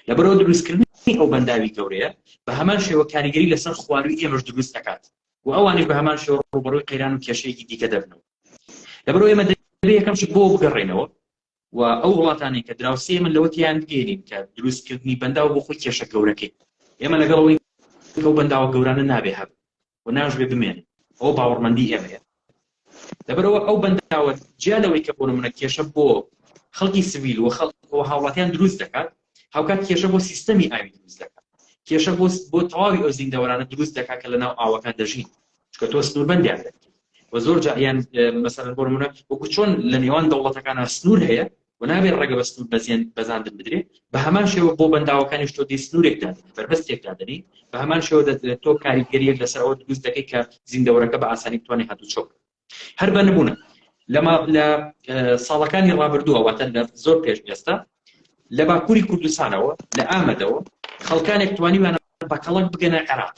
لەبەرەوە دروستکردنی ئەو بەنداوی گەورەیە بە هەمان شێوە کاریگەری لەسەر خواروی ئێمەش دروست دەکات و ئەوانش بە هەمان شێوە ڕوبەڕوی قەیران و کێشەیەکی دیکە دەبنەوە لەبەرو ئێمە دەبێ یەکەم شت بۆ بگەڕێنەوە و ئەو وڵاتانی کە دراوسی من لەوە تیان بگەێنین کە دروستکردنی بەنداو بۆ خۆی کێشە گەورەکەی ئێمە لەگەڵەوەی ئەو بەنداوە گەورانە نابێ هەب و ناشبێ بمێن ئەو باوەڕمەندی ئێمەیە لەبەرەوە ئەو بەنداوە جیا لەوەی کە بۆ منە کێشە بۆ خەڵکی سویل و خەڵک هاوڵاتیان دروست دەکات هاوکات کێشە بۆ سیستەمی ئاوی دروست دەکات کێشە بۆ بۆ تەواوی ئەو زیندەوەرانە دروست دەکات کە لە ناو ئاوەکان دەژین چکە تۆ سنووربندیان دەکەیت و زۆر جاهیان مەسەر بۆ منە وەکو چۆن لە نێوان دەوڵەتەکان سنوور هەیە و نابێت ڕێگە بە سنوور بەزیێن بەزاندن بدرێ بە هەمان شێوە بۆ بەنداوەکانی شتۆ دی سنوورێک دادنی بەربەستێک دادنی بە هەمان شێوە دەدرێت تۆ کاریگەریەک لەسەر ئەوە دروست دەکەی کە زیندەوەرەکە بە ئاسانی توانێ هاتو چۆک هەر بە نمونە لەما لە ساڵەکانی ڕابردووە واتە لە زۆر پێش ئێستا لە باکووری کوردستانەوە لە ئامەدەوە خەڵکانێک توانیوانە بە کەڵک بگەنە عێراق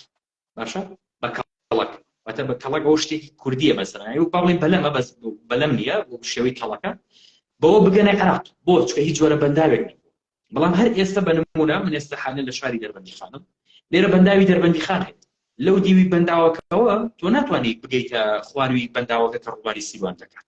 باشە بە کەڵک واتە بە کەڵک ئەو شتێکی کوردیە مەسەرانی و باڵی بەلەمە بەس بەلەم نییە شێوەی کەڵەکە بەوە بگەنە عێراق بۆ چکە هیچ جۆرە بەنداوێک بەڵام هەر ئێستە بە نموونە من ئێستا حالەن لە شاری دەربەندیخانم لێرە بەنداوی دەربەندیخان هەیە لەو دیوی بەنداوەکەەوە تۆ ناتوانیت بگەیتە خواروی بەنداوەکە کە ڕووباری سیروان دەکات